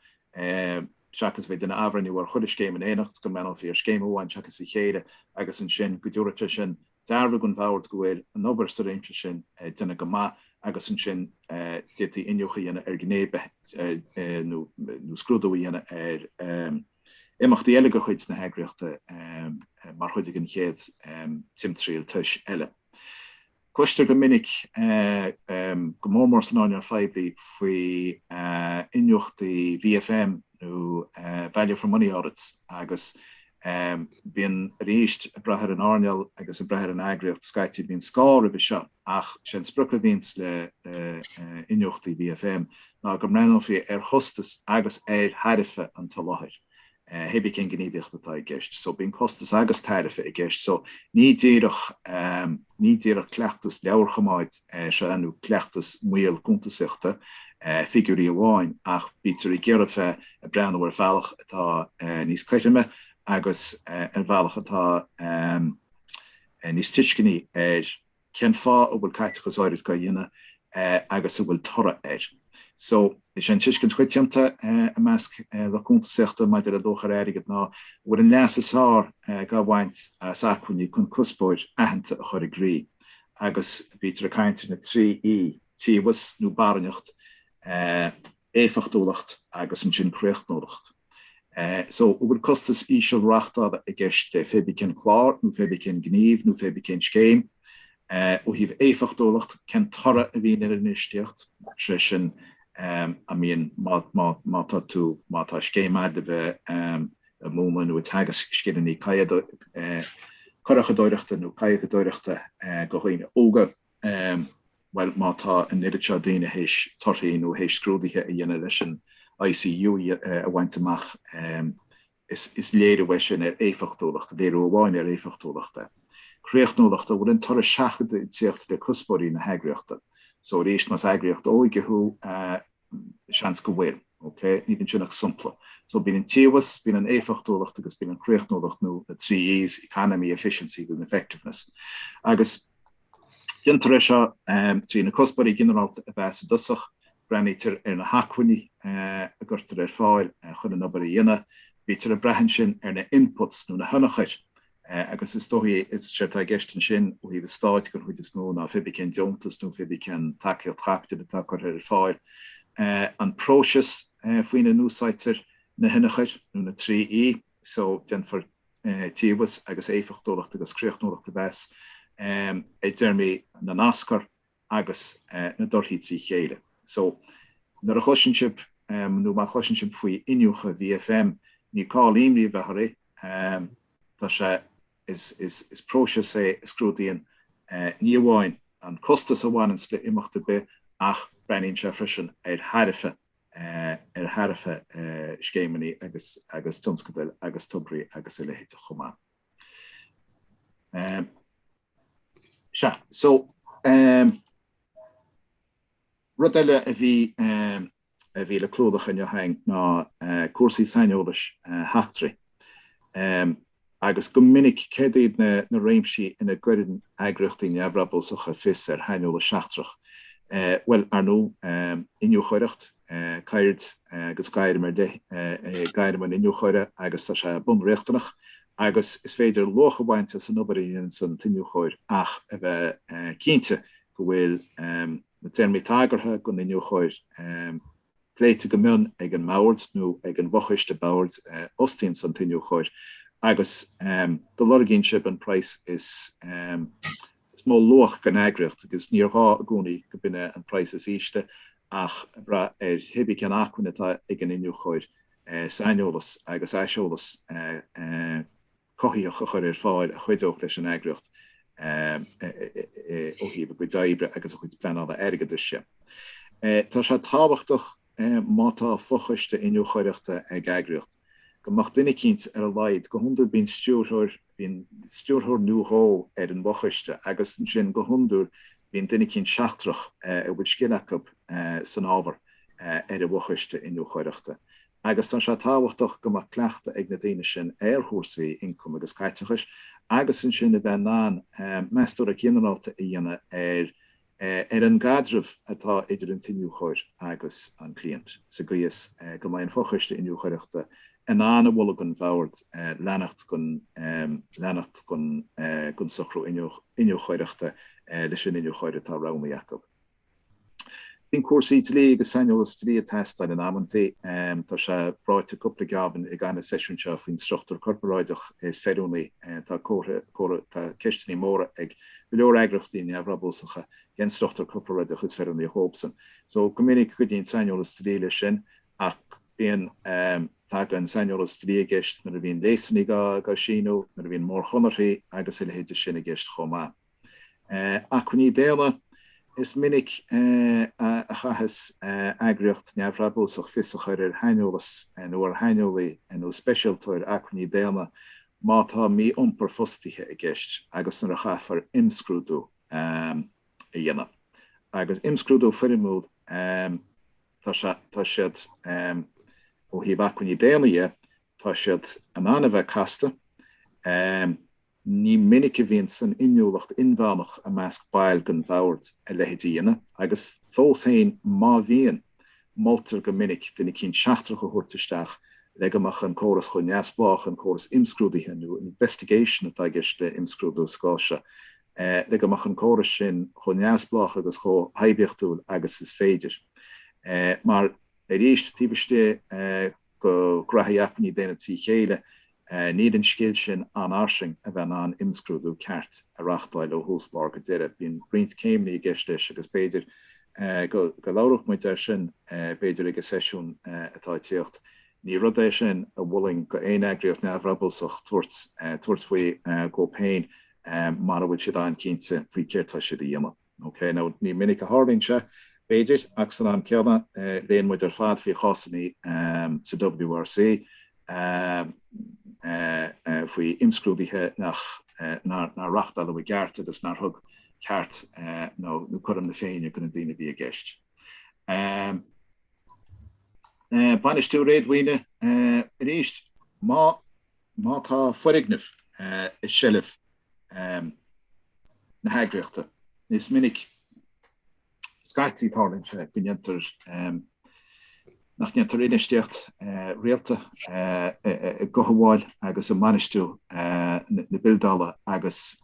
seachas a bheith ag déanamh athbhreathnú ar chuile scéim in éineacht, go mbreathnófaí ar scéim amháin seachas a chéile agus ansin go dtabharfadh sé sin dhearbhú don bhord go bhfuil an obair sa réimse sin déanta go maith agus ansin d'fhéadfaí iniúchadh a dhéanamh ar ghnéithe nó scrúdú a dhéanamh ar imeachtaí eile de chuid na heagraíochta mar chuid den chéad timthriall tis eile. Cloistear go minic, go mór mór san earnáil phoiblí, faoi iniúchtaí VFM nó value for money audits agus bíonn arís ag brath ar an earnáil agus ag brath ar an eagraíocht scaití bíonn scáth roimhe seo ach sé an sprioc a bhíonns le iniúchtaí VFM ná go mbreathnófaí ar chostas agus ar thairbhe an tsoláthair hé bith cén gníomhaíocht atá i gceist so bíonn costas agus tairbhe i gceist so ní díreach ní díreach cleachtas leabharchoimeáid Seo nó cleachtas maol cuntasaíochta, figiúirí amháin, ach bítear ag iarraidh bheith ag breathnú ar bhealach atá níos cothroime agus ar bhealach atá níos tuisceanaí ar cén fáth a bhfuil caiteachas áirid á dhéanamh agus an bhfuil toradh air. So, is é an tuiscint choitianta i measc lucht cuntasaíochta maidir le luach ar airgead ná go bhfuil an leas is fearr dhá bhaint as acmhainní chun cuspóir aitheanta a chur i gcrích. agus bítear ag caint ar na trí 'E' tíobhas nó barainneacht, éifeachtúlacht agus ansin críochnúlacht. So, an bhfuil costas íseal reáchtála i gceist le fé bí cén clár nó fé bí cén gníomh nó fé bí cén scéim? Ó thaobh éifeachtúlacht, cén toradh a bhíonn ar an infheistíocht, is é sin, I mean, má tá tú, má tá scéim agat le bheith, ag múineadh nó ag teagasc scileanna curachadóireachta nó kayakadóireachta do dhaoine óga? Bhuel, má tá an oiread seo daoine théis torthaí nó théis scrúduithe a dhéanamh leis an ICU a bhaint amach, is léiriú é sin ar éifeachtúlacht, léiriú amháin ar éifeachtúlacht é. Críochnúlacht, an bhfuil an toradh seachadta ag tíocht le cuspóirí na heagraíochta? So arís, más eagraíocht óige thú, seans go bhfuil. OK? Níl ansin ach sompla. So bíonn an tíobhas, bíonn an éifeachtúlacht agus bíonn an chríochnúlacht nó na trí E's, economy, efficiency agus effectiveness. Agus déantar é seo trí na cuspóirí ginearálta a mheas i dtosach, breathnaítear ar na hacmhainní a gcuirtear ar fáil chun an obair a dhéanamh, bítear ag brath ansin ar na inputs nó na hionchuir agus is dóigh is éard atá i gceist ansin ó thaobh an stáit den chuid is mó ná fé bí cén deontas nó fé bí cén tacaíocht chaipitil atá curtha ar fáil, an próiseas faoina n-úsáidtear na hionchuir nó na trí E, so déanfar tíobhas agus éifeachtúlacht agus críochnúlacht a mheas i dtéarmaí na n-aschur. agus na dtorthaí trí chéile. So, nuair a chloiseann sibh, nó má chloiseann sibh faoi iniúchadh VFM, ní call aon imní a bheith oraibh, tá sé, is, is próiseas é a scrúdaíonn ní amháin an costas a bhaineanns le imeacht ar bith ach breathnaíonn sé freisin ar thairbhe, ar thairbhe scéimeanna agus, agus tionscadail agus tograí agus a leithéid de chomh maith. Sea, so ehm rud eile a bhí ehm a bhí le clúdach inniu againn ná eh cúrsaí saineolais eh sheachtraigh ehm agus go minic céard iad na na réimsí ina gcuireann eagraíochtaí neamhbhrabúsacha fios ar shaineolas seachtrach eh bhuel ar ndú ehm iniúchóireacht Ceird agus gairm ar leith é gairm an iniúchóra agus tá sé bunriachtanach agus is féidir luach a bhaint as an obair a dhéananns an t-iniúchóir ach a bheith cinnte go bhfuil na téarmaí tagartha don iniúchóir pléite go mion ag an mbord nó ag an bhfochoiste boird a fhostaíonns an t-iniúchóir agus go lorgaíonn sibh an praghas is is mó luach don eagraíocht agus níor ghá i gcónaí gurb in é an praghas is ísle ach ag brath ar cibé cén acmhainn atá ag an iniúchóir saineolas agus aiseolas cothaitheach a chur ar fáil a chuideodh leis an eagraíocht ó thaobh a gcuid oibre agus a chuid pleanála airgeadais de. Tá sé tábhachtach má tá fochoiste iniúchóireachta ag eagraíocht, go mbeadh duine eicínt ar a laghad, go hiondúil bíonn stiúrthóir, bíonn stiúrthóir nó dhó ar an bhfochoiste agus ansin go hiondúil bíonn duine eicínt seachtrach a bhfuil scil acu san ábhar ar an bhfochoiste iniúchóireachta. Agus tá sé tábhachtach go mbeadh cleachtadh ag na daoine sin ar chúrsaí ioncaim agus caiteachais agus ansin a bheith in ann meastóireacht ghinearálta a dhéanamh ar ar an gcaidreamh atá idir an t-iniúchóir agus an cliant, sa gcaoi is go mbeidh an Fochoiste Iniúchóireachta in ann a mholadh don bhord leanacht leanacht den socrú iniúchóireachta leis an iniúchóir atá roghnaithe acu. Bíonn cúrsaí dlí agus saineolas dlí ag teastáil in amantaí. Tá sé ráite cúpla geábhan i gcaitheamh na seisiún seo faoin struchtúr corparáideach is feiliúnaí. Tá comhartha tá ceisteanna móra ag. Go leor eagraíochtaí neamhbhrabúsacha cén struchtúr corparáideach is feiliúnaí dóibhsean. So go minic cuidíonn saineolas dlí leis sin ach bíonn tagann saineolas dlí i gceist nuair a bhíonn léasanna dhá síniú, nuair a bhíonn mórchonarthaí agus a leithéid de sin i gceist chomh maith. Acmhainní daonna Is minic a chaitheas eagraíocht neamhbhrabúsach fios a chur ar shaineolas nó ar shaineolaí nó speisialtóir acmhainní daonna má tá mí-iompar fostaithe i gceist agus nuair a chaithfear imscrúdú a dhéanamh. Agus imscrúdú foirmiúil tá siad, ó thaobh acmhainní daonna dhe, tá siad in ann a bheith casta. Ní minic a bhíonn san inniúlacht inmheánach i measc baill den fhobhoird a leithéid a dhéanamh agus fós féin má bhíonn, Moltar go minic duine eicínt seachtrach a thabhairt isteach le go mbeadh an córas chomh neamhspleách, an córas imscrúdaithe nó investigation atá i gceist le imscrúdú sa gcás seo, le go mbeadh an córas sin chomh neamhspleách agus chomh hoibiachtúil agus is féidir. Mar, arís, taobh istigh de ghnóthaí acmhainní daonna trí chéile, Níl an scil sin an-fhairsing a bheith in ann imscrúdú ceart a reachtáil ó thús lár go deireadh. Bíonn roinnt céimeanna i gceist leis agus b'fhéidir go labhródh muid air sin b'fhéidir ag an seisiún atá ag tíocht. Ní rud é sin a mholfainn go aon eagraíocht neamhbhrabúsach tabhairt faoi dhóibh féin mara bhfuil siad an-chinnte faoi céard tá siad a dhéanamh. OK, now ní minic a tharlaíonn sé, b'fhéidir, ach san am céanna, léann muid ar fad faoi chásanna sa WRC, faoi imscrúduithe nár reachtáladh i gceart agus nár thug ceart nó cothrom na féinne do na daoine a bhí i gceist. Bainistiú réadmhaoine, arís, má. Má tá foirgneamh i seilbh na heagraíochta, is minic, scaití, tarlaíonn sé go ndéantar, nach ndéantar infheistíocht rialta i gcothabháil agus i mbainistiú na bildeála agus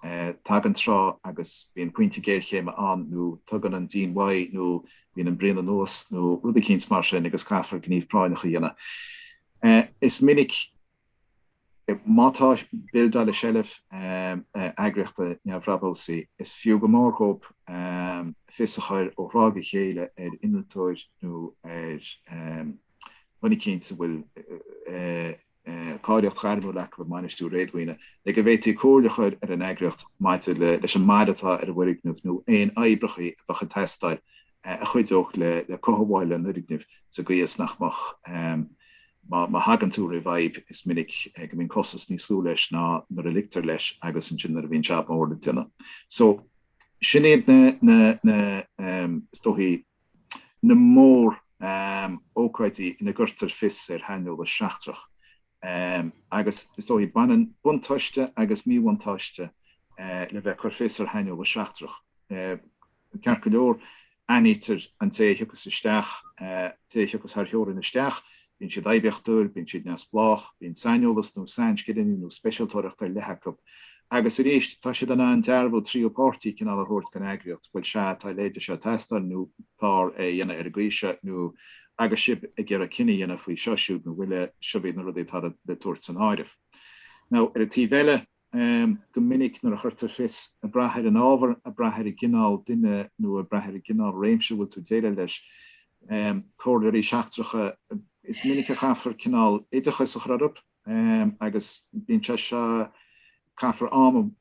tagann tráth agus bíonn pointe géarchéime ann nó tugann an díon uaidh nó bíonn an braon anuas nó rud eicínt mar sin agus caithfear gníomh práinneach a dhéanamh. Is minic, má tá bildeáil i seilbh eagraíochta neamhbhrabúsaí, is fiú go mór dhóib fios a chur ó thráth go chéile ar innealtóir nó ar dhuine eicínt a bhfuil cáilíocht ghairmiúil acu i mbainistiú réadmhaoine, le go bhféadfaí comhairle a chur ar an eagraíocht maidir leis an mbail atá ar an bhfoirgneamh nó aon oibreacha a bheadh ag teastáil a chuideodh le cothabháil an fhoirgnimh sa gcaoi is nach mbeadh Má thagann tú roimh fhadhb, is minic go mbíonn costas níos lú leis ná nuair a ligtear leis agus ansin nuair a bhíonn jab mór le déanamh. So, sin iad na, is dóichí, na mórócáidí ina gcuirtear fios ar shaineolas seachtrach. Agus, is dóichí, baineann buntáiste agus míbhuntáiste le bheith ag cur fios ar shaineolas seachtrach. Ceart go leor, aithnítear, an té a thiocfas isteach, an té a thiocfas thar theorainn isteach, bíonn siad oibiachtúil, bíonn siad neamhspleách, bíonn saineolas nó sainscileanna nó speisialtóireacht ar leith acu. Agus arís, tá siad in ann dearbhú tríú páirtí cineál a thabhairt don eagraíocht, bhuel, sea, tá a leithéid de seo ag teastáil nó chóir é a dhéanamh ar an gcaoi seo nó agus sibh ag iarraidh cinneadh a dhéanamh faoi seo ná siúd nó bhuel, seo iad na rudaí atá le tabhairt san áireamh. Now, ar an taobh eile, Go minic nuair a chuirtear fios, ag brath ar an ábhar, ag brath ar an gcineál duine nó ag brath ar an gcineál réimse a bhfuil tú ag déileáil leis, comhairleoirí seachtracha, is minic a chaithfear cineál oideachas a chur orthu agus bíonn sé seo, caithfear am,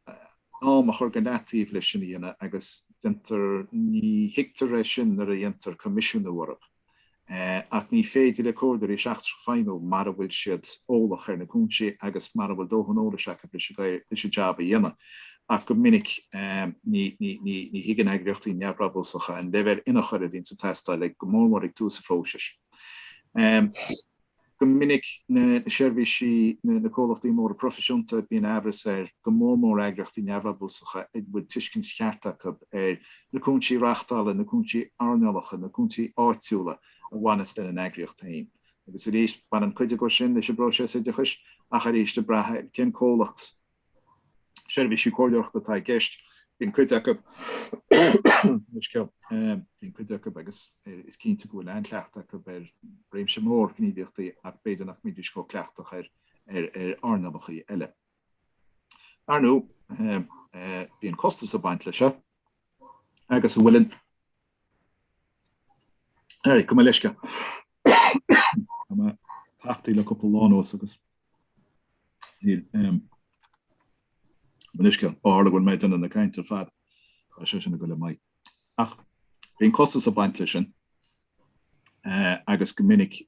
am a chur go leataobh leis sin a dhéanamh agus déantar, ní thuigtear é sin nuair a dhéantar coimisiúnú orthu. ach ní féidir le comhairleoirí seachtracha feidhmiú mara bhfuil siad eolach ar na cúinsí agus mara bhfuil dóthain eolais acu leis an jab a dhéanamh, ach go minic ní thuigeann eagraíochtaí neamhbhrabúsacha an leibhéal ionchuir a bhíonns ag teastáil ag, go mór mór ag tús an phróisis. Go minic na seirbhísí, na comhlachtaí móra proifisiúnta bíonn amhras ar go mór mór eagraíochtaí neamhbhrabúsacha an bhfuil tuiscint cheart acu ar na cúinsí reachtála, na cúinsí earnálacha, na cúinsí áitiúla a bhaineas lena n-eagraíocht féin. Agus arís, baineann cuid acu sin leis an bpróiseas oideachais ach arís ag brath ar cén comhlacht seirbhísí comhairleoireachta atá i gceist, bíonn cuid acu bíonn cuid acu agus is cinnte go bhfuil an-chleachtadh acu ar réimse mór gníomhaíochtaí ach b'fhéidir nach mbídís chomh cleachtach ar earnálachaí eile. Ar ndóigh, bíonn costas ag baint leis seo agus an bhfuil an Gabh mo leithscéal. Tá mé tachtaithe le cúpla lá anuas agus níl aon uisce, ó tharla go bhfuil mé ag déanamh na cainte ar fad, tá sé sin ag dul i m'aghaidh. Ach bíonn costas ag baint leis sin agus go minic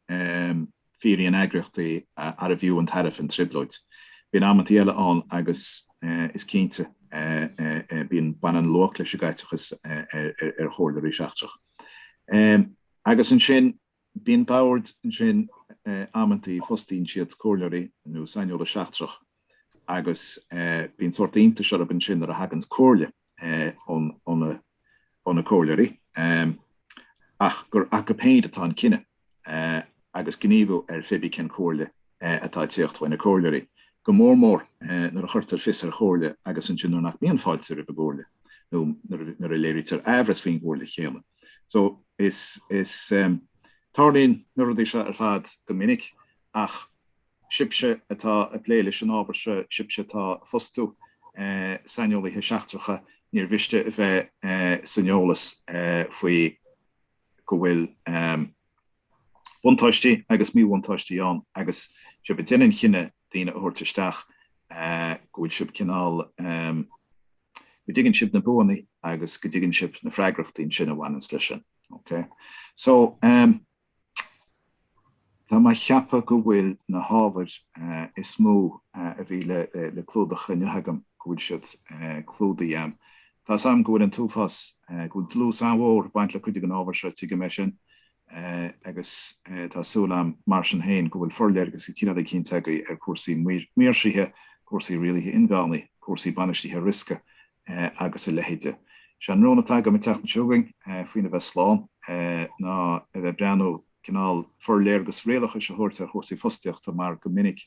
fiafraíonn eagraíochtaí arbh fhiú an tairbhe an trioblóid. Bíonn amantaí eile ann agus is cinnte bíonn baineann luach leis an gcaiteachas ar chomhairleoirí seachtrach. Agus ansin bíonn boird ansin amantaí fostaíonn siad comhairleoirí nó saineolas seachtrach. agus bíonn sórt iontais orthu ansin nuair a thaganns an chomhairle ó na comhairleoirí ach gur acu féin atá an cinneadh agus gníomhú ar phébí cén chomhairle atá ag téacht uaidh na comhairleoirí, go mór mór nuair a chuirtear fios ar chomhairle agus ansin nuair nach mbíonn fáilte roimh an gcomhairle nó nuair a léirítear amhras faoin gcomhairle chéanna. So, is. Tarlaíonn na rudaí seo ar fad go minic ach. Sibhse atá ag plé leis an ábhar seo, sibhse atá ag fostú saineolaithe seachtracha, níor mhiste a bheith san eolas faoi go bhfuil buntáistí agus míbhuntáistí ann agus sibh ag déanamh an chinnidh daoine a thabhairt isteach, go bhfuil sibh cineál, go dtuigeann sibh na buannaí agus go dtuigeann sibh na freagrachtaí ansin a bhaineanns leis sin. OK? So. Tá mé a cheapadh go bhfuil na hábhar is mó a bhí le clúdach inniu agam, go bhfuil siad clúdaithe. Tá's agam go bhfuil an t-uafás, go bhfuil dlús an-mhór ag baint le cuid den ábhar seo, tuigim é sin, agus tá súil agam mar sin féin go bhfuil forléargas de chineál eicínt agaibh ar chúrsaí maoirsithe, cúrsaí rialaithe inmheánaigh, cúrsaí bainistithe riosca Eh, agus a leithéide. Is é an rún atá agam an tseachtain seo chugainn, eh, faoina bheith slán, eh, ná a bheith ag breathnú cineál forléargas rialachais a thabhairt ar chúrsaí fostaíochta mar go minic,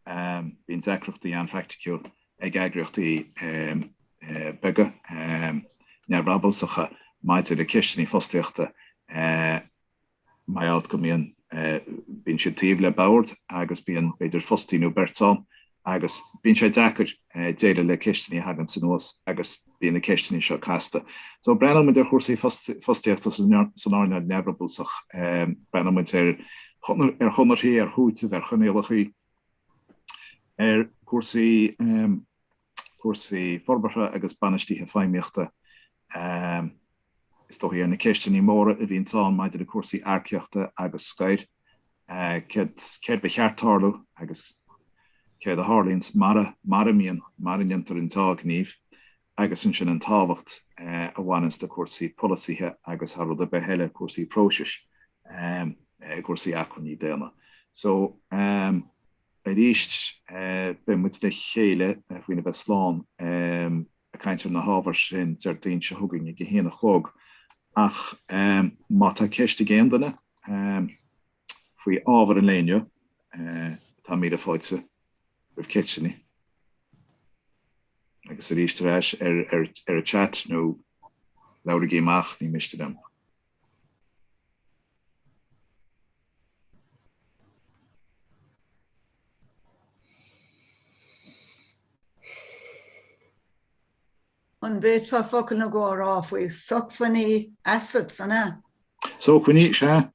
em, bíonn deacrachtaí an-phraiticiúil, ag eagraíochtaí, em, eh, beaga, em, neamhbhrabúsacha maidir le ceisteannaí fostaíochta, eh, mar gheall go mbíonn, bíonn siad taobh le bord agus bíonn b'fhéidir fostaí nó beirt ann agus bíonn sé deacair déileáil le ceisteanna a thaganns anuas agus bíonn na ceisteanna seo casta. So breathnóidh muid ar chúrsaí fostaíochta san earnáil neamhbhrabúsach, breathnóidh muid ar ar chonarthaí, ar chúiteamh, ar choinníollachaí, ar chúrsaí. cúrsaí forbartha agus bainistithe feidhmíochta. Is dócha ar na ceisteanna móra a bhíonns ann maidir le cúrsaí earcaíochta agus scoir, céard céard ba cheart tarlú agus céard a tharlaíonns mara mara mbíonn mara ndéantar an dea-ghníomh agus ansin an tábhacht a bhaineanns le cúrsaí polasaithe agus thar rud ar bith eile cúrsaí próisis i gcúrsaí acmhainní daonna. So. Arís, beidh muid le chéile faoina bheith slán ag caint ar na hábhair sin Déardaoin seo chugainn ag a haon a chlog. Ach má tá ceist ag aon duine faoi ábhar an lae inniu, tá míle fáilte roimh ceisteanna. Agus arís ar ais ar an chat nó labhraigí amach, ní miste liom. An bhféadfá focal nó dhó a rá faoi sócmhainní, assets, an ea? Sócmhainní, sea.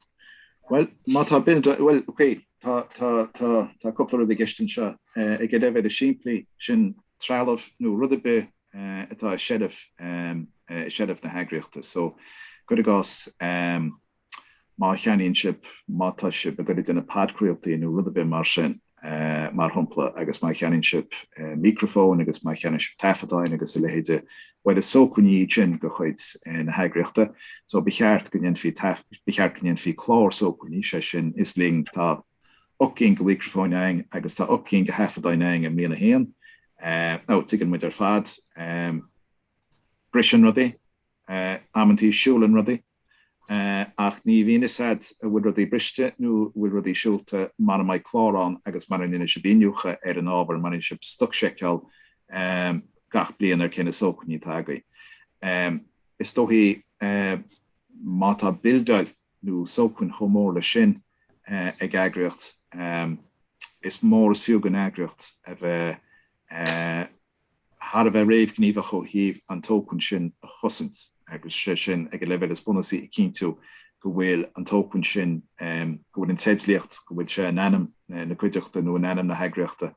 Bhuel, má tá bith, bhuel, okay, tá, tá, tá, tá cúpla rud i gceist anseo. Ag an leibhéal is simplí, sin trealamh nó rud ar bith atá i seilbh, i seilbh na heagraíochta. So, cuir i gcás má cheannaíonn sibh, má tá sibh ag goil do na podchraoltaí nó rud ar bith mar sin, mar shompla, agus má cheannaíonn sibh micreafón agus má cheannaíonn sibh taifeadáin agus a leithéide, bhuel is sócmhainní iad sin de chuid na heagraíochta. So, ba cheart go ndéanfaí, ba cheart go ndéanfaí clár sócmhainní, sé sin, is linn tá ocht gcinn go mhicreafóin againn agus tá ocht gcinn go thaifeadáin againn i mbliain a haon. Now, tuigeann muid ar fad briseann rudaí amantaí siúlann rudaí ach ní bhíonn 'fhios a'd a' bhfuil rudaí briste nó a' bhfuil rudaí siúlta mara mbeidh clár ann agus mara ndéanann sibh iniúchadh ar an ábhar mara ndéanann sibh stoc-seiceáil gach bliain ar cé na sócmhainní atá agaibh is dóichí má tá bildeáil nó sócmhainn chomh mór leis sin ag eagraíocht, is mór is fiú don eagraíocht a bheith thar a bheith réamhghníomhach ó thaobh an tsócmhainn sin a chosaint, agus sé sin ag an leibhéal is bunúsaí ag cinntiú go bhfuil an tsócmhainn sin, go bhfuil an teidlíocht, go bhfuil sé in ainm na cuideachta nó in ainm na heagraíochta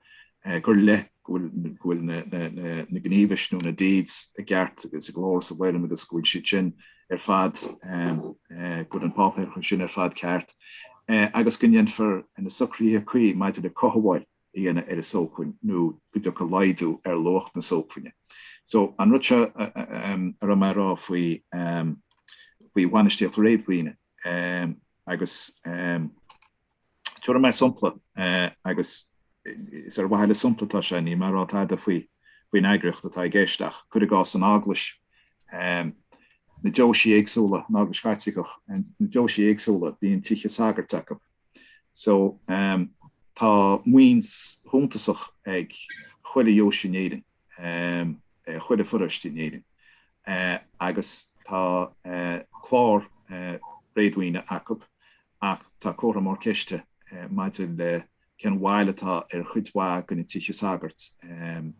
go háirithe go bhfuil na gníomhais nó na deeds i gceart agus ag an dlíodóir sa bhfoirm agus go bhfuil siad sin ar fad, go bhfuil an páipéarachas sin ar fad ceart agus go ndéanfar na socruithe cuí maidir le cothabháil a dhéanamh ar an sócmhainn nó go dtiocfaidh laghdú ar luach na sócmhainne. So, an rud seo a raibh mé a rá faoi faoi bhainistíocht réadmhaoine. agus tabharfaidh mé sompla agus is ar mhaithe le sompla atá sé, níl mé ag rá tada faoi faoin eagraíocht atá i gceist ach cuir i gcás an Eaglais, na deoisí éagsúla, an Eaglais Chaitliceach, na deoisí éagsúla bíonn tithe sagairt acu so tá maoin shuntasach ag chuile dheoise in Éirinn. chuile pharóiste in Éirinn agus tá clár réadmhaoine acu ach tá comhartha mór ceiste maidir le cén bhail atá ar chuid mhaith de na tithe sagairt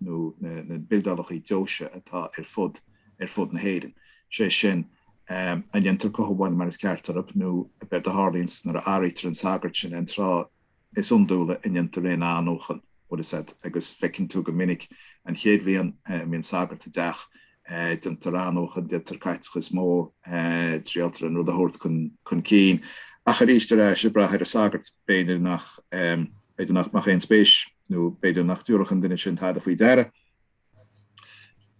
nó na bildeálacha deoise atá ar fud ar fud na hÉireann. Sé sin, an ndéantar cothabháil mar is ceart orthu nó ab éard a tharlaíonns nuair a athraítear an sagart sin an tráth is iondúla a ndéantar aon athnuachan, más ea agus feiceann tú go minic an chéad bhliain a mbíonn sagart i dteach, déantar athnuachan, déantar caiteachas mór, triailtear an rud a thabhairt chun cinn ach arís ar ais ag brath ar an sagart, b'fhéidir nach, nach mbeadh aon spéis nó b'fhéidir nach dtabharfadh an duine sin tada faoi deara.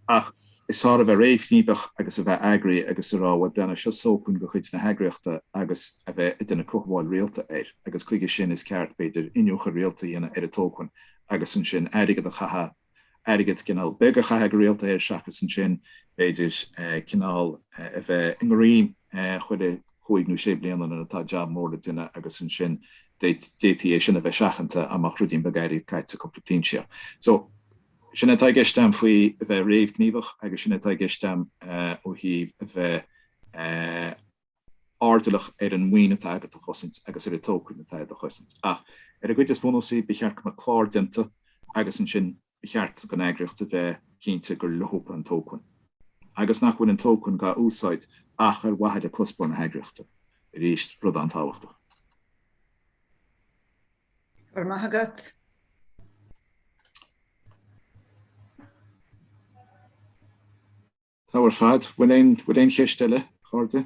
Ach is fearr a bheith réamhghníomhach agus a bheith eagraithe agus a rá bhuel breathnaigh. Seo sócmhainn de chuid na heagraíochta agus a bheith ag déanamh cothabháil rialta air agus chuige sin is ceart, b'fhéidir, iniúchadh rialta a dhéanamh ar an tsócmhainn agus ansin airgead a chaitheamh, airgead cineál beag a chaitheamh go rialta air seachas ansin, b'fhéidir, cineál a bheith i ngéarchéim chuile chúig nó sé bliana nuair atá jab mór le déanamh agus ansin d'fhéadfaí é sin a bheith seachanta dá mbeadh ruidín beag airgid caite sa gcúpla bliain roimhe sin. Sin é atá i gceist agam faoi a bheith réamhghníomhach agus sin é atá i gceist agam ó thaobh a bheith airdeallach ar an maoin atá agat a chosaint agus ar an tsócmhainn atá agat a chosaint. Ach ar an gcuid is bhunúsaí, ba cheart go mbeadh clár déanta agus ansin ba cheart don eagraíocht a bheith cinnte gur leofa an tsócmhainn agus nach bhfuil an tsócmhainn dhá úsáid ach ar mhaithe le cuspóir na heagraíochta, arís, rud an-tábhachtach. Go raibh maith agat. Tá ar fad. Bhfuil aon cheist eile, a chairde?